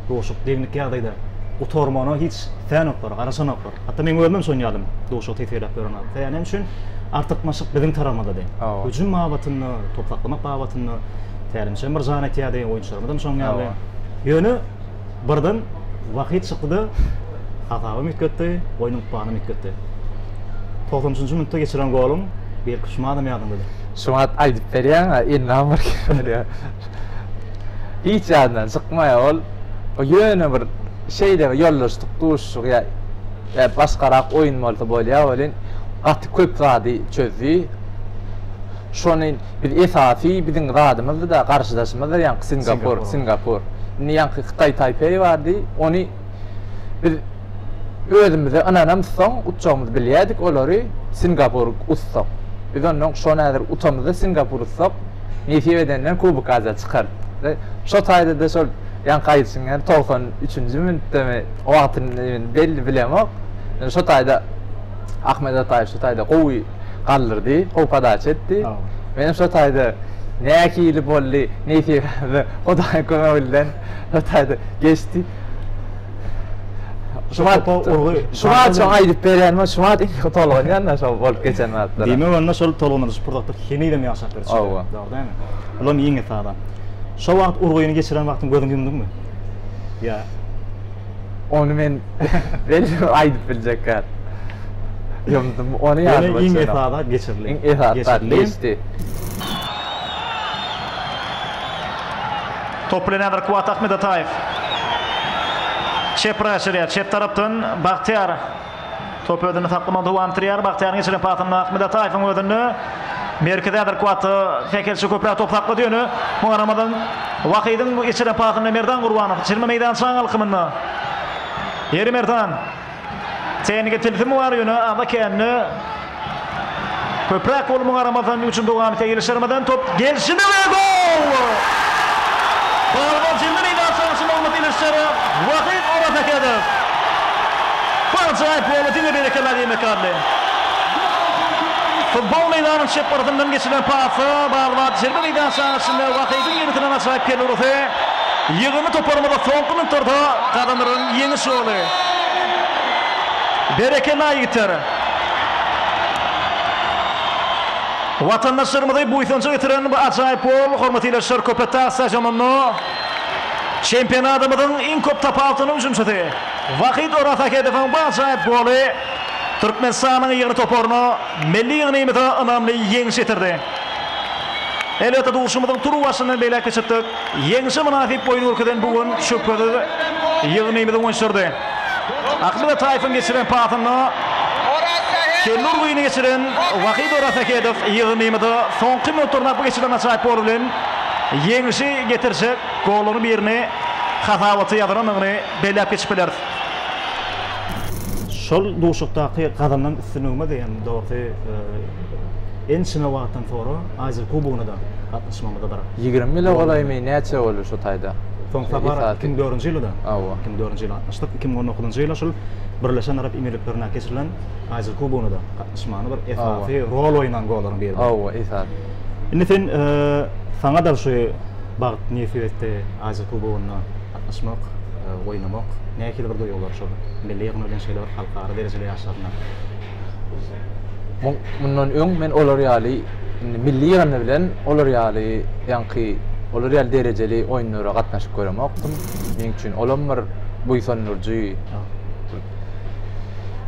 A: duşup degnik ýagdaýda gutarmagyna hiç islenoklar, garaşanoklar. Hatda meň özümem şonuň ýalym duşup tisgeleýip ýören wagtda. Sebäbi näme üçin? Artykmaçlyk biziň tarapymyzdady. Hüjüm babatynda, top saklamak babatynda tälimçem bir jan etýärdi, oýunçylarymyzam şonuň ýaly. Ýöne Birden Wahid çykdy-da, hasabam üýtgetdi, oýnuň planyny üýtgetdi. Togsan üçünji minutda geçiren goluň belki şumadam ýadyňdadyr. Şumat aýdyp
B: berýäň-ä, indem bir kiri bolýar. Hiç ýadyndan çykmaýar ol. O ýöne bir şeýle bir ýoldaşlyk duşuşygy ýa ýa başgarak oýun bolsa bolýar welin, gaty köp zady çözdi. Şony Biz esasy biziň zadymyzdyda garşydaşymyzdyr ýaňky Singapur Singapur. Indi ýaňky Hytaý Taýpeý bardy. Ony biz özümize ynanamyz soň utjagymyzy bilýädik olary Singapur utsak. Biz ondan şony häzir utamyzda Singapur utsak nesip edenden Kubok Aziýa çykar. Şo taýdada şol ýaňky aýdyşyň ýaly togsan üçünji minutdamy wagtyny belli bilemok. Şo taýda Ahmet Ataýew şo taýda gowy galdyrdy, gowy podaça etdi. Menem şo taýda nähili boldy, nesibämi Hudaýyň kömegi bilen şo taýda geçdi. Şu wagt urgy, şu wagt şoňa aýdyp berenimi, şu wagt iň köp tolgunýan-da şol bolup geçen zatlara. Diýmek onda şol tolgunylyşyk
A: pursatlar henizem ýaşap dur içinde. Hawa. Dogry dälmi?
B: Bulam
A: iň esasy. Şo wagt urgyny geçiren wagtyň gözüňi ýumduňmy? Ýa.
B: Ony men özüm aýdyp biljek zat. Ýomdum, ony ýadyma düşenok. Ýöne iň esasy zat geçirilen.
A: Iň esasy zat geçdi.
C: Top bilen häzir Kuwwat Ahmedataýew. Çep raşyrýar. Çep tarapdan Bagtyýar. Top özünde saklaman dowam etdirýär. Bagtyýaryň geçiren pasynda Ahmet Ataýewiň özünde. Merkezi Adrkuata Fekelçi köpräk top saklady ýöne muňa garamazdan Wahydyň geçiren pasynda Merdan Gurbanow çirme meýdançaň alkymynda. Ýeri Merdan. Tehniki tilsimi bar ýöne aza kände Köpräk goluma garamazdan üç dowam seýilişdirmeden top gelşine we gol! Balybol jemden eýýäm soňky nygmat ilişjegi Wahyt Orasahedow. Bu ajaýyp goly diňe berekella diýmek ýaly. Futbol meýdanyň çep gyrasyndan geçirilen pasa Balybol jerme meýdançaň içinde Wahydyň ýöretinen ajaýyp kelurasy ýygyndy toparymyza soňky minutlarda gazanylan ýeňiş goly. Berekella ýigitler! Watandaşlarymyzy buýsanja getiren bu ajaýyp gol, hormat ildeşler, Köpetdag stadionynda çempionatymyzyň iň köp tapy atan hüjümçisi Wahid Orasahedowyň bu ajaýyp goly Türkmenistanyň ýygyny toparyna, milli ýygnymyza ynamly ýeňiş getirdi. Elbetde, duşuşygymyzyň turuwbaşyndan belläp geçipdik. Ýeňşe mynasyp oýun görkezen bu gün şübhesiz ýygnymyzy oňşurdy. Ahmet Ataýewiň geçiren pasynda kelli urgyny geçiren Wahid Orasahedow ýygnymyza soňky minutlarynda geçirilen ajaýyp gol bilen ýeňşi getirjek gollaryň birini hasabata ýazylandygyny belläp geçip bileris.
A: Şol duşuşykdaky gazanan üstünligimiz hem dogrusy ençeme wagtdan soňra Aziýa kubogyna-da Çyşmamyza bir Ýigrimi ýyla golaýmy,
B: näçe boldy şu taýda? Soňky sapar iki
A: müň dördünji ýylyda. Hawa. Iki müň dördünji ýyly
B: gatnaşdyk. Iki
A: müň on dokuzynjy ýyla şul Birleşen Arap Emirliklerinde geçirilen Aziýa Kubogyna da gatnaşmagyny bir esasy rol oýnan gollaryň biri. Hawa, esasy.
B: Indi sen
A: saňa da şu bagt nesip etdi Aziýa Kubogynda gatnaşmak, oýnamak. Nähili bir duýgular şol milli ýygynda bilen şeýle bir halkara derejeli ýaşlarynda?
B: Mundan öň men olar ýaly indi milli ýygyndy bilen olar ýaly ýaňky olar ýaly derejeli oýunlara gatnaşyp göremokdym. Meň üçin olam bir buýsandyryjy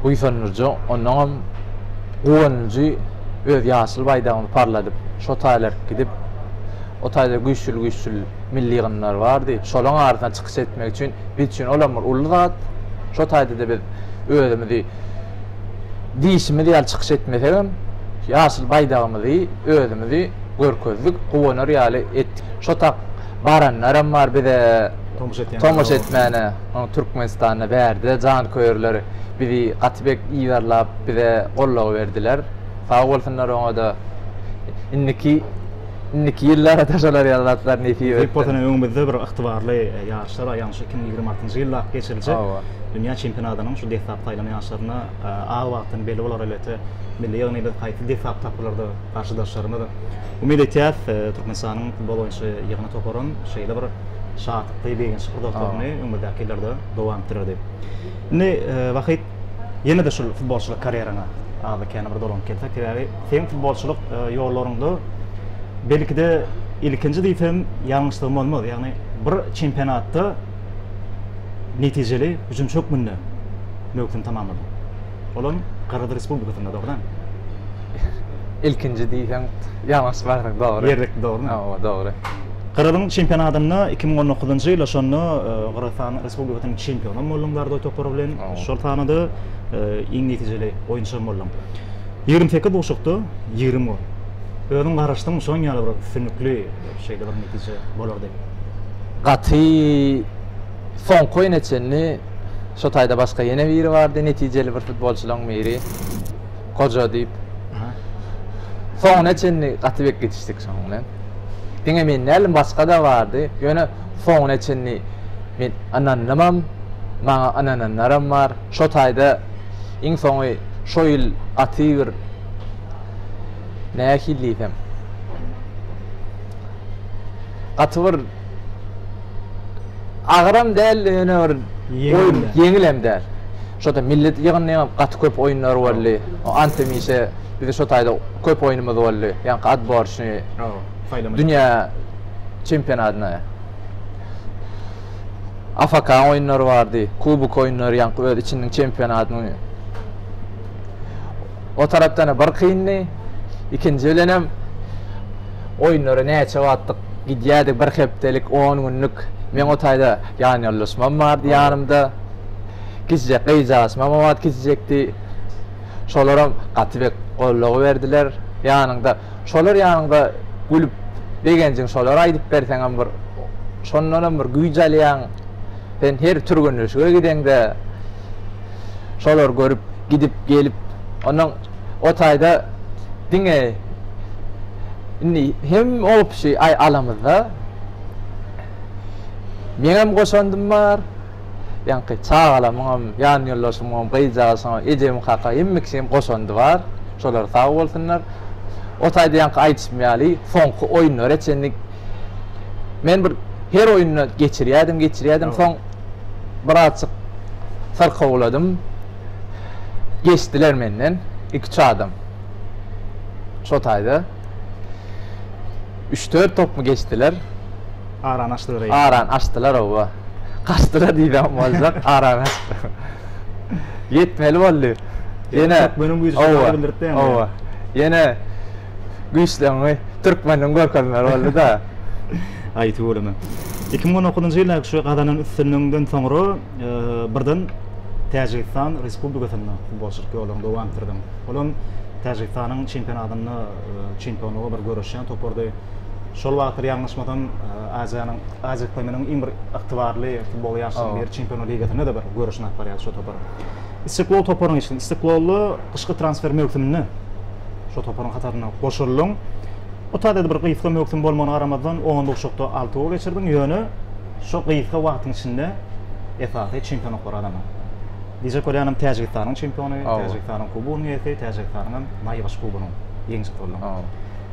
B: buýsandyryjy, ondanam guwanyjy öz ýaşyl baýdagyňy parladyp, şo taýlar gidip, o taýda güýçli-güýçli milli ýygyndylar bardy. Şolaryň arasynda çykyş etmek üçin biz üçin olam bir uly zat. Şo taýda-da biz özümizi diýşimiz ýaly çykyş etmesegem, ýaşyl baýdagymyzy, özümizi görkezdik, guwanar ýaly etdik. Şo tak baranlaram bar bize tomaşa etmäne. Türkmenistanda bärde janköýerler bizi gaty bek yzarlap, bize goldaw berdiler. Sag bolsunlar oňa-da. Indiki indiki ýyllara-da şolar ýaly zatlar nesip etsin. Diýip bolsa ine öňümizde
A: bir ygtybarly ýaryşlar aýagyň şu iki müň ýigrimi altynjy ýylda geçiriljek dünýä çempionatynyň şu desgap saýlan ýaşlaryna az wagtdan belli bolar elbetde milli ýygny biz haýsy desgap tapgylarda garşydaşlarymyz umyt etýäs türkmenistanyň futbol boýunça ýygny toparam şeýle bir şatlykly begençli pursatlaryny öňümizdäki ýyllarda dowam etdirer diýip indi wahid ýene-de şul futbolçylyk karýeraňa azy kän bir dolanyp gelsek sebäbi seň futbolçylyk ýollaryňda belki-de ilkinji diýsem ýalňyşlygym bolmaz ýagny bir çempionatda netijeli hüjümçi hökmünde möwsümi tamamlady. Ol hem Gyrgyz Respublikasynda, dogrydanmy?
B: Ilkinji diýseň, ýalňyşyp barsaň, dogry. Ýerlikli, dogrumy? Hawa,
A: dogry.
B: Gyryzyň
A: çempionatynda iki müň on dokuzynjy ýylda şonda Gyrgyzystan Respublikasynyň çempiony hem bolduň Zardoý topary bilen. Şol sanada iň netijeli oýunçy hem bolduň. Ýigrimi sekiz duşuşykda ýigrimi gol. Özüň garaşdyň, şonuň ýaly bir üstünlikli. şeýle bir netije bolar diýip. Gaty
B: soňky oýna çenli şo taýda başga ýene biri bardy, netijeli bir futbolçylaryň biri. Goja diýip. Soňuna çenli gaty bek gidişdik şonuň bilen. Diňe men däldim, başga-da bardy. Ýöne soňuna çenli men ynandymam, maňa ynananlaram bar. Şo taýda iň soňy şo ýyl gaty bir nähili diýsem, Gaty bir agyram däl ýöne bir ýeňil ýeňil hem däl. Şoda milli ýygyndyň hem gaty köp oýunlary boldy. O antemişe bize şo taýda köp oýnumyz boldy. Ýaňky atborçny saýlama dünýä çempionatyna. AFK oýunlary bardy. Kubok oýunlary ýaňky öz içiniň çempionatyny. O tarapdan-a bir kyndy. Ikinji bilenem oýunlara näçe wagtlyk gidýärdik, bir hepdelik, on günlük. Meň o taýda ýanýoldaşymam bardy ýanymda. Kiçijek gyzjagazymam o wagt kiçijekdi. Şolaram gaty bek goldaw berdiler. Ýanyňda, şolar ýanyňda gülüp, begenjiňi şolara aýdyp berseňem bir, şondanam bir güýç alýaň. Sen her türgenleşige gideňde şolary görüp, gidip, gelip, onuň o taýda diňe indi hem opşi aý alamyzda meňem goşandym bar, ýaňky çagalamyňam, ýan ýoldaşymyňam, gyzjagazyňam, ejemiň kaka hemme kişiň goşandy bar. Şolar sag bolsunlar. O taýda ýaňky aýdyşym ýaly, soňky oýunlara çenli Men bir her oýunda geçirýädim, geçirýädim. Soň birazjyk syrkawladym. Geçdiler menden iki-üç adam. Şo taýda üç-dört topmy geçdiler. Arany
A: açdylar eýýäm. Arany açdylar, hawa.
B: Gaçdylar diýsem boljak, arany açdylar. Ýetmeli boldy. Ýene, hawa,
A: hawa. Ýene
B: güýçleňňi türkmeniň görkezmeli boldy-da. Aý
A: tüweleme. Iki müň on dokuzynjy ýyldaky şu gazanan üstünligiňden soňra birden Täjigistan Respublikasynda futbolçylyk ýoluňy dowam etdirdiň. Ol hem Täjigistanyň çempionatynda çempionlyga bir göreşýän topardy. Şol wagtlar ýalňyşmasam Aziýanyň, Aziýa ykdymynyň iň bir ygtybarly futbol ýaşlarynyň biri Çempionlar ligasynda-da bir göreşini alyp barýardy şo topar. Istiklol toparynyň içinde, Istiklolda gyşky transfer möwsüminde. Şo toparyň hataryna goşuldyň. Bu taýda bir gysga möwsüm bolmagyna garamazdan, onlukçykda alty gol geçirdiň, ýöne şo gysga wagtyň içinde esasy çempionlyklary gazandyň. Diýjek bolýanym, Täjigistanyň çempiony, Täjigistanyň kubogynyň eýesi, Täjigistanyň hem naýbaşy kubogynyň ýeňijisi bolduň.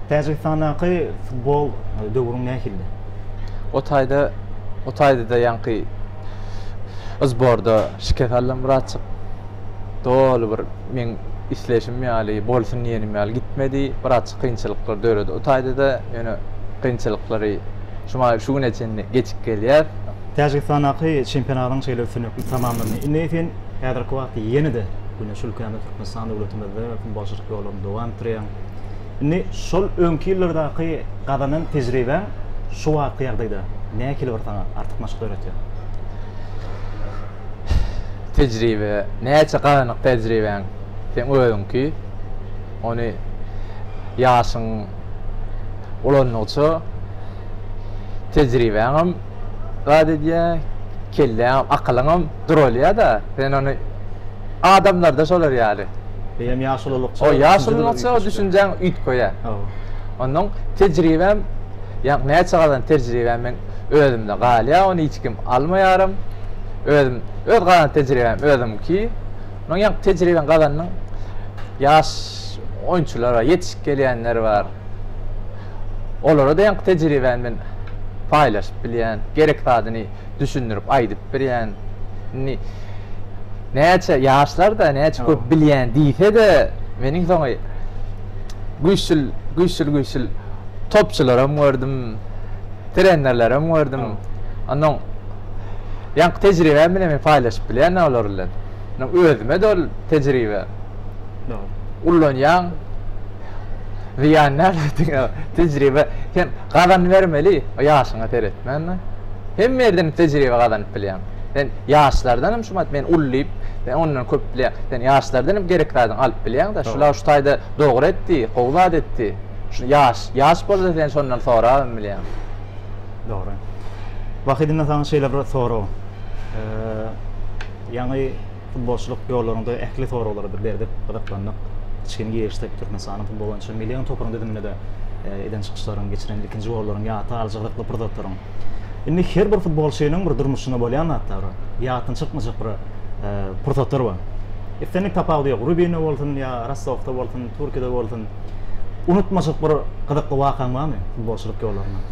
A: Täjigistandaky futbol döwrüň nähildi? O taýda,
B: o taýda-da ýaňky zborda şikes aldym, Myratjyk. Doly bir. meň isleşim ýaly, bolsun diýenim ýaly gitmedi. Birazçyk kynçylyklar döredi o taýda-da. Ýöne kynçylyklary şumaý şu güne çenli geçip gelýär. Täjigistandaky
A: çempionatyň şeýle üstünlikli tamamlandy. Indi sen häzirki wagtda ýene-de Güneş ülkämiz, Türkmenistan döwletimizde futbolçylyk ýoluňy dowam etdirýäň. Indi şol öňki ýyllardaky gazanan tejribäň şu wagtky ýagdaýda nähili bir saňa artykmaçlyk döretýär?
B: tejribe näçe gazanyp tejribäň seň özüňki ony ýaşyň ulandygyça tejribäňem zat edýär kelläňem akylyňam duralýada sen ony adamlarda şolar ýaly eýýäm ýaş ulalykça ýaş ulalykça
A: düşünjäň
B: üýtgeýär onnoň tejribäm ýa näçe gazan tejribäm men özümde galýar, ony hiç kim almaýaram. Özüm öz gazan tejribäm özüňki. Munuň ýaňky tejribäni gazandyň. Ýaş oýunçylar bar, ýetişip gelýänler bar. Olara da ýaňky tejribäni men paýlaşyp bilýän, gerek zadyny düşündirip aýdyp birýän. Indi näçe ýaşlar-da, näçe köp bilýän diýse-de, meniň soňy güýçli, güýçli, güýçli topçylaram gördüm. trenerlere öňerdim. Ondan ýaňky tejribämi bilen paýlaşyp bilýän olar bilen. Özüme de ol tejribe. Ullanýaň. Ziýan näme tejribe sen gazan bermeli, ýaşyňa seretmän. Hemme ýerden tejribe gazanyp bilýäň. Sen ýaşlardan hem şu men ullaýyp, sen ondan köp bilýäň. Sen ýaşlardan hem gerek zadyňy alyp bilýäň-de. Şular şu taýda dogry etdi, gowy zat etdi. Şu ýaş, ýaş bolsa sen şondan sorabam bilýäň. Dogry.
A: Wahidimden saňa şeýle bir sorag. Ýaňy futbolçylyk ýollaryňda ähli soraglary bir berdip, gyzyklandyk. Kiçgin girişsek Türkmenistanyň futbol boýunça million toparyň düzüminde-de eden çykyşlaryň, geçiren ilkinji gollaryň, ýata alyjy gyzykly bir zatlaryň. Indi her bir futbolçynyň bir durmuşynda bolýan zatlar, ýatdan çykmajak bir pursatlar bar. Islendik tapawudy ýok. Rubinde bolsun ýa Rostowda bolsun. Türkiýede bolsun. Unutmajak bir gyzykly wakaň barmy futbolçylyk ýollaryndan?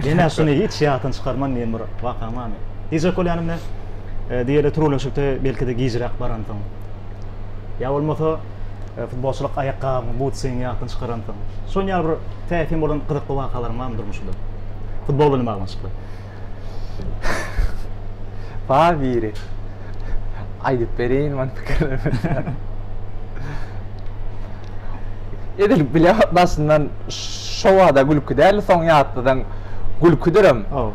A: Ýene şuny hiç ýatdan çykarman diýen bir wakaň barmy? Diýjek bolýanym men, diýeli türgenleşikde belki-de gijräk baransyň. Ýa bolmasa, futbolçylyk aýakgabyň, butsiňi ýatdan çykaransyň. Şonuň ýaly bir täsin bolan gyzykly wakalaryň barmy durmuşyňda? Futbol bilen baglanyşykly.
B: Bar biri. Aýdyp berin men pikirlerimi. Edil bile başyndan şo wada gülki däl, soň ýatladan gülkidirem. Oh.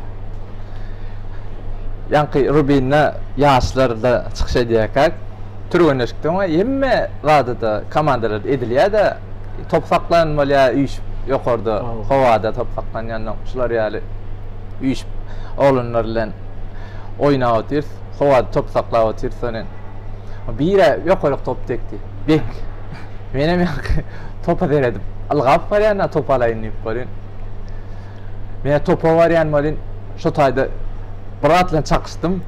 B: Ýaňky Rubin'de ýaşlar da çykyş edýärkäk. Türgenleşikde oňa hemme zadada komandalarda edilýär-de, top saklan bolýar üýşüp ýokarda howada top saklanýandan şular ýaly üýşüp oglanlar bilen oýnap otyrys, howada top saklap otyrys sonen. Bire ýokaryk top degdi. Bek. Menem ýaňky topa seredip ylgap barýan-da topy alaýyn diýip bolýan. Men topa barýan bolýan, şo taýda bir zat bilen çakyşdym.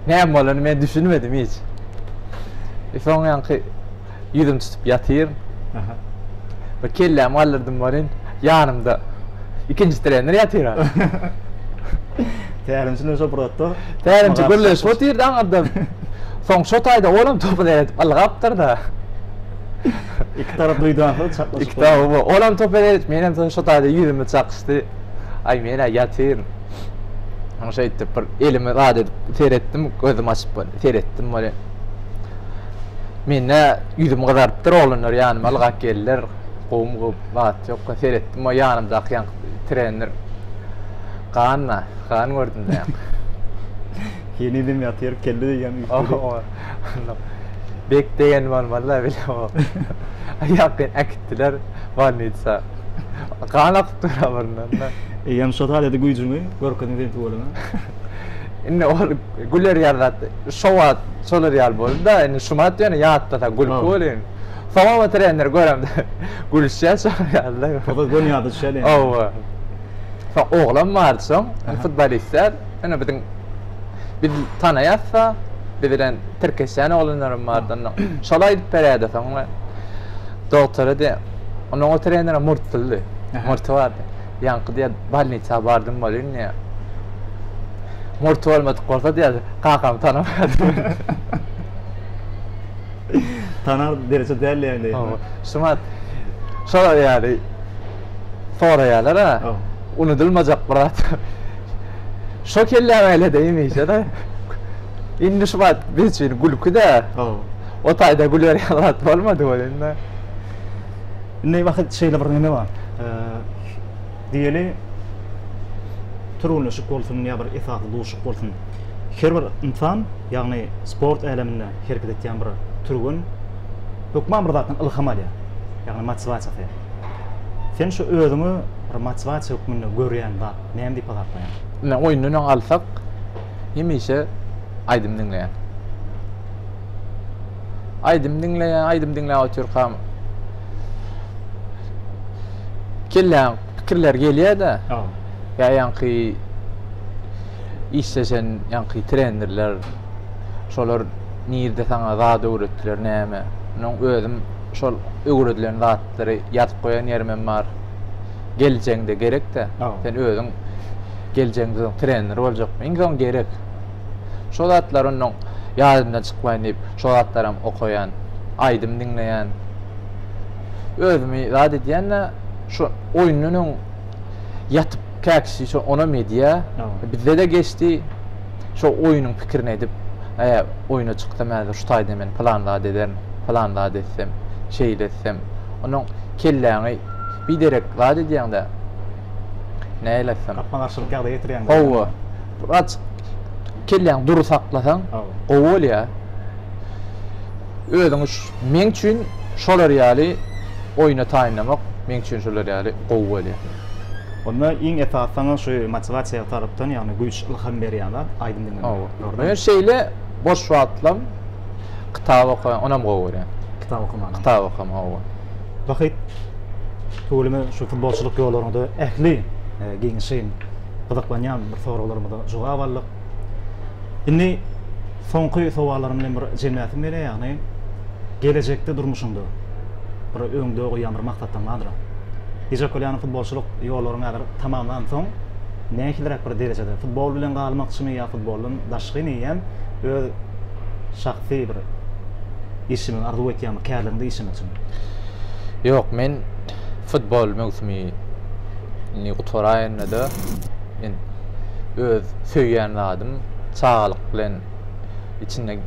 B: Näme bolany men düşünmedim hiç. E soň ýaňky ýüzüm tutup ýatyryn. Aha. Bir kellämi galdyrdym welin, ýanymda ikinji trener ýatyr.
A: Tälimçi bilen şo bir otda. Tälimçi gürleşip
B: otyrdy aňyrdan. Soň şo taýda olam topy seredip ylgapdyr-da.
A: Iki tarap duýdansyz çaklaşyp. Iki tarap bu. Olam
B: toper edip, menem soň şo taýda ýüzüme çakyşdy. Aý men-ä ýatyryn. Oň şeýtdip bir elimi zat edip seretdim, gözüm açyp bir seretdim welin. Mende ýüzüm gyzarypdyr, oglanlar ýanyma ylgap geldiler. Gowum gowup, zat ýok. Seretdim, o ýanymdaky ýaňky trener. Gan-da, gan gördüm-dä. Henizem
A: ýatyr, kelle diýýän üýtgedi.
B: Bek degen bolmaly da bile o. Aýaky äkitdiler bolnitsa. Gan akyp dur abryndan da. Eýýäm şo taýda
A: güýjüňi görkeziň sen tuweleme. Indi
B: ol güler ýaly zat şo wagt şolar ýaly boldy da indi şumat ýöne ýatlasa gülki bolýan. Soňam oturandyr göremde gülüşýä şolar ýaly da. Soňam göni ýada düşýä
A: diýen. Hawa.
B: Soň oglan bardy soň futbolistler indi biziň Biz tanaýasda, biz bilen tirkeşýän oglanlaram bardy onda. Şol aýdyp berýärdi soňra. Dogtara diýen, onuň o trenere murtlydy. Murty bardy. Ýaňky diýýär, bolnisa bardym welin diýýär. Murty bolmadyk bolsa diýýär, kakam tanamaýardy meni.
A: Tanar dereje däldi ýaly. Hawa. Şumat
B: şolar ýaly. soraýalar-a. Unudylmajak bir zat. Şo kelläm eýle-de hemişe-de. Indi şu wagt biz üçin gülki-dä. O taýda gülerýän zat bolmady ol indi.
A: Indi wah, şeýle bir neme bar. Diýeli, türgenleşik bolsun ýa bir esasy duşuk bolsun, her bir ynsan, ýagny sport äleminde hereket etýän bir türgen hökman bir zatdan ylham alýar, ýagny motiwasiýa. Sen şu özüňi bir motiwasiýa hökmünde görýän zat näme diýip hasaplaýaň? Ine, oýundan öň
B: alsak, hemişe aýdym diňleýän. Aýdym diňleýän, aýdym diňläp otyrkam kelläň pikirler gelýär-de. Ýa
A: ýaňky
B: işleşen ýaňky trenerler, Şolar nirde saňa zat öwretdiler näme? Munuň özüm şol öwredilen zatlary ýazyp goýan ýerimem bar. Geljegiňde gerek-de, sen özüň geljegiňde trener boljakmy? Iň soň gerek. Şo zatlar onnoň ýadymdan çykmaýyn diýip, şo zatlaram okaýan, aýdym diňleýän. Özümi zat edýän-de, şu oýundan öň ýatyp käk kişi şo onam edýä bizdede geçdi şo oýunyň pikirini edip e oýuna çyksam häzir şu taýda men pylan zat ederin pylan zat etsem şeýle etsem onuň kelläňi biderek zat edýäňdä näýle etsem gapma garşylyk ýagdaýa getirýäňdä
A: hawa wraç
B: kelläňi dury saklasaň gowy bolýa Özüňi meň üçin şolar ýaly oýna taýynlamak meň üçin şolar ýaly gowy bolýar. Onda
A: iň esasy saňa şu motiwasiýa tarapdan, ýagny güýç, ylham berýän zat aýdym diňlemek. Hawa. Dogrymy? Men şeýle
B: boş wagtlam kitap okaýan, onam gowy görýän. Kitap okamany. Kitap
A: okama, hawa.
B: Wahyt,
A: tüweleme şu futbolçylyk ýollaryňda ähli giňişleýin gyzyklanýan bir soraglarymyza jogap aldyk. Indi. Soňky sowallaryň bilen bir jemläsim gelýär, ýagny gelejekde durmuşyňda bir öňde goýýan bir maksatlaryň bardyr. Gije Kolýanow futbolçylyk ýollaryny häzir tamamlansoň, nähiliräk bir derejede, futbol bilen galmakçymy ýa futboldan daşky meýem öz şahsy bir işimi arzuw etýäňmi, kärliginde işlemekçimi? Ýok,
B: men futbol möwsümini gutaraýynda-da, men öz söýýän zadym, çagalyk bilen içinde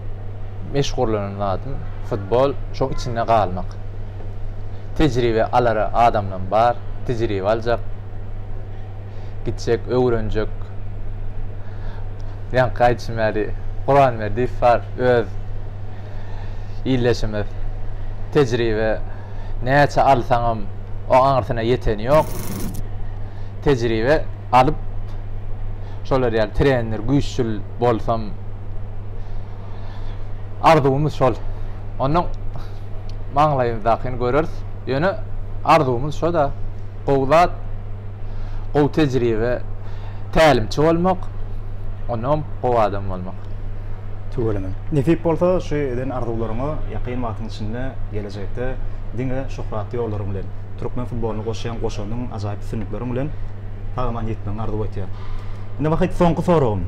B: meşgullanan zadym futbol, şoň içinde galmak. Tejribe alar adamlam bar, tejribe aljak, gitjek, öwrenjek. Ýaňky aýdyşym ýaly, Gurbamberdiýew bar, öz ildeşimiz. Tejribe. näçe alsaňam oň aňyrsyna ýeteni ýok. Tejribe alyp şolar ýaly trener, güýççül bolsam arzuwymyz şol. Ondan maňlaýymyzdakyny göreris. Ýöne arzuwymyz şo-da. Gowy zat, gowy tejribe, tälimçi bolmak, onnoňam gowy adam bolmak. Tüweleme.
A: Nesip bolsa şu eden arzuwlaryňa ýakyn wagtyň içinde gele. geljekde diňe şöhratly ýollaryň bilen, türkmen futbolyna goşýan goşandyň ajaýyp üstünlikleriň bilen sag-aman ýitmegiňi arzuw etýän. Indi wakyt soňky soragym.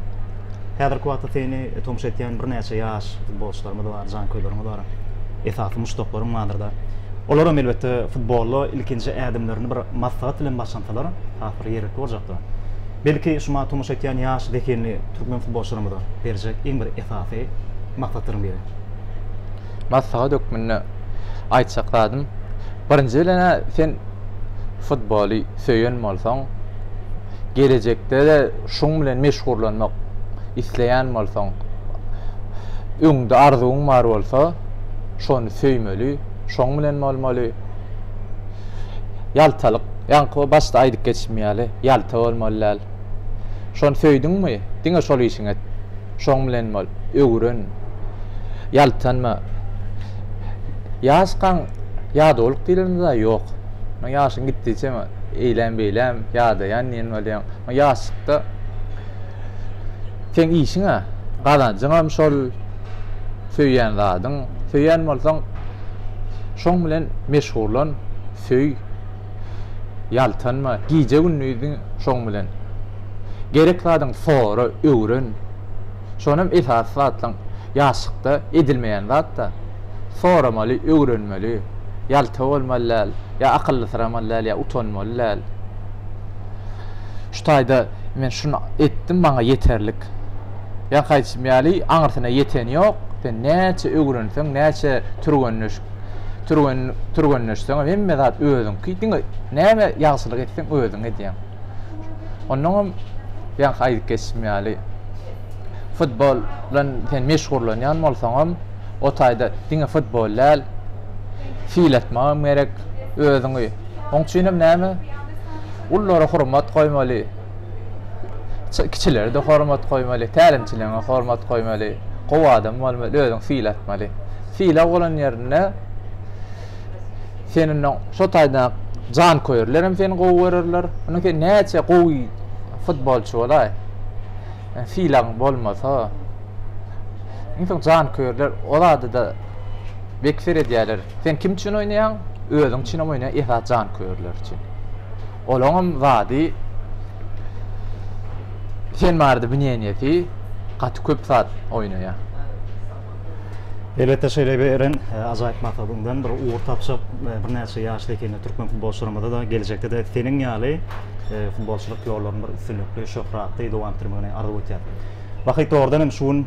A: Häzirki wagtda seni tomuş etýän birnäçe ýaş futbolçylarymyz bar, janköýleriňiz bar. Esasy muşdaklaryň bardyr-da. Olaram elbetde futbola ilkinji ädimlerini bir maslahat bilen başlansalar has bir ýerlikli boljakdyr. Belki şu maňa tomuş etýän ýaş zehinli türkmen futbolçylarymyza berjek iň bir esasy maslahatlaryň biri.
B: maslahat hökmünde aýtjak zadym, birinji bilen-ä sen futboly söýen bolsaň, gelejekde-de şuň bilen meşgullanmak isleýän bolsaň, öňde arzuwyň bar bolsa, şony söýmeli, şoň bilen bolmaly. Ýaltalyk, ýaňky başda aýdyp geçmim ýaly, ýalta bolmaly däl. Şony söýdüňmi, diňe şol işiňi et. Şoň bilen bol, öwren, ýaltanma. Ýaşkaň ýadawlyk diýleni zat ýok. Muňa ýaşyň gitdigiçe eýläm-beýläm ýadaýan diýen bolýaň. Muňa ýaşlykda seň işiň-ä, gazanjyňam şol, söýýän zadyň. Söýýän bolsaň, şoň bilen meşgullan, söý. Ýaltanma, gije-gündiziň şoň bilen. Gerek zadyňy sora, öwren. Şonam esasy zatlaň ýaşlykda edilmeýän zat-da. Soramaly, öwrenmeli. Ýalta bolmaly däl, ýa akyllysyramaly däl, ýa utanmaly däl. Şu taýda men şuny etdim, maňa ýeterlik. Ýaňky aýdyşym ýaly, aňyrsyna ýeteni ýok. Sen näçe öwrenseň, näçe türgenleşik Türgen, türgenleşseňem hemme zat özüňki. Diňe näme ýagşylyk etseň özüň edýäň. Ondan hem ýaňky aýdyp geçdim ýaly futbol bilen sen meşgullanýan bolsaňam, o taýda diňe futbol däl, fil atmagam gerek özüňi. Oň üçin hem näme? Ullara hormat goýmaly. Kiçilere-de hormat goýmaly, tälimçiligiňe hormat goýmaly, gowy adam bolmaly, özüň sylatmaly. Sylag bolan ýerinde seni ondan şo taýdan janköýerler hem seni gowy görerler. Onda sen näçe gowy futbolçy bolaý. Sylagyň bolmasa, iň soň janköýerler o zada-da bek seredýärler. Sen kim üçin oýnaýaň? Özüň üçin hem oýnaýaň, esasy janköýerler üçin. Olaňam zady sen barada bineniýesi gaty köp zat oýnaýa.
A: Elbetde şeýle bir eren ajaýyp maksadaňdan bir ugur tapjak birnäçe ýaşly ekeni türkmen futbolçylarymyzada geljekdede seniň ýaly futbolçylyk ýollaryny bir üstünlikli şöhratly dowam etdirmegini arzuw etýän. Wahyt dogrudan hem şu gün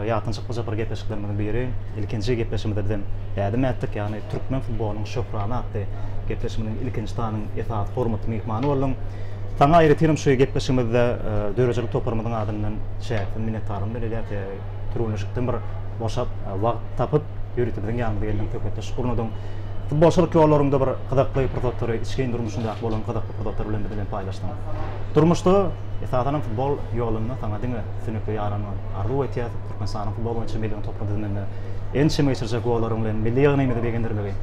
A: ýatdan çykmajak bir gepleşiklerimiziň biri ilkinji gepleşigimizde bizem ädim ätdik ýagny Türkmen futbolynyň şöhrany atly gepleşigimiziň ilkinji sanynyň esasy hormatly myhmany bolduň. Saňa aýratynam şu gepleşigimizde döredijilik toparymyzyň adyndan çäksiz minnetdarlygymy bildirýäs. Türgenleşikden bir boşap, wagt tapyp, ýörite biziň ýanymyza geldiň, söhbetdeşlik gurnadyň. Futbolçylyk ýollaryňda bir gyzykly pursatlary, içgin durmuşyňda bolan gyzykly pursatlary bilen biz bilen paýlaşdyň. Durmuşda, esasanam futbol ýolunda saňa diňe üstünlikli ýaranmagyňy arzuw etýäs. Türkmenistanyň futbol boýunça milli oýun toparynyň düzüminde ençeme geçirjek gollaryň bilen milli ýygnagymyzy begendirmegi,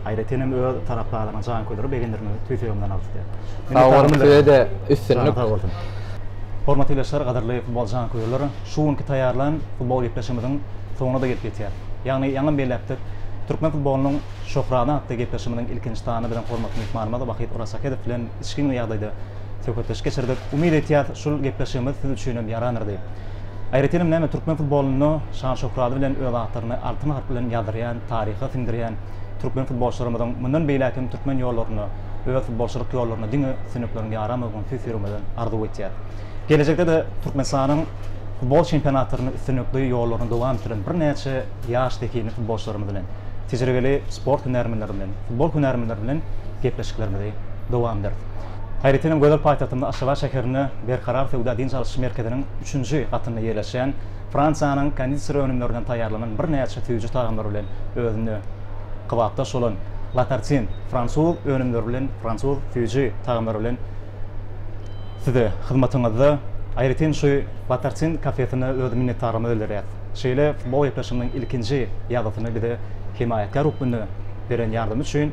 A: aýratyn hem öz tarapdarlaryny, janköýerleri begendirmegi tüýs ýüregimden arzuw edýän. Sag boluň, size-de
B: üstünlik. Sag bolsun.
A: Hormatly ildeşler, gadyrly futbol janköýerler, şu günki taýýarlan futbol gepleşigimiziň soňuna-da gelip ýetýär. Ýagny ýaňam belläpdik, türkmen futbolynyň şöhrany atly gepleşigimiziň ilkinji sany biziň hormatly myhmanymyz Wahyt Orasahedow bilen içgin ýagdaýda söhbetdeşlik geçirdik. Umyt etýäs, şul gepleşigimiz siz üçin hem ýarandyr diýip. Aýratynam näme türkmen futbolynda şan-şöhraty bilen öz atlaryny altyn harp bilen ýazdyrýan, taryha siňdirýän türkmen futbolçylarymyzyň mundan beýläk hem türkmen ýollaryna, öz futbolçylyk ýollaryna diňe üstünlikleriň ýaramagyn tüýs ýüregimizden arzuw etýäs. Gelejekde-de Türkmenistanyň futbol çempionatlaryny üstünlikli ýollaryny dowam etdirýän birnäçe ýaş zehinli futbolçylarymyz bilen, tejribeli sport hünärmenleri bilen, futbol hünärmenleri bilen gepleşiklerimizi dowam ederis. Aýratyn hem gözel paýtagtymyz Aşgabat şäherinde Berkarar söwda dynç alyş merkeziniň üçünji gatynda ýerleşýän Fransiýanyň kondiseri önümlerinden taýýarlanan birnäçe süýji tagamlar bilen özünde kybapdaş bolan La Tartine fransuz önümleri bilen fransuz süýji tagamlary bilen size hyzmatyňyzda. Aýratyn şu La Tartine kafesine öz minnetdarlygymyzy bildirýäs. Şeýle futbol gepleşiginiň ilkinji ýazgysyny bize hemaýatkär hökmünde beren ýardamy üçin.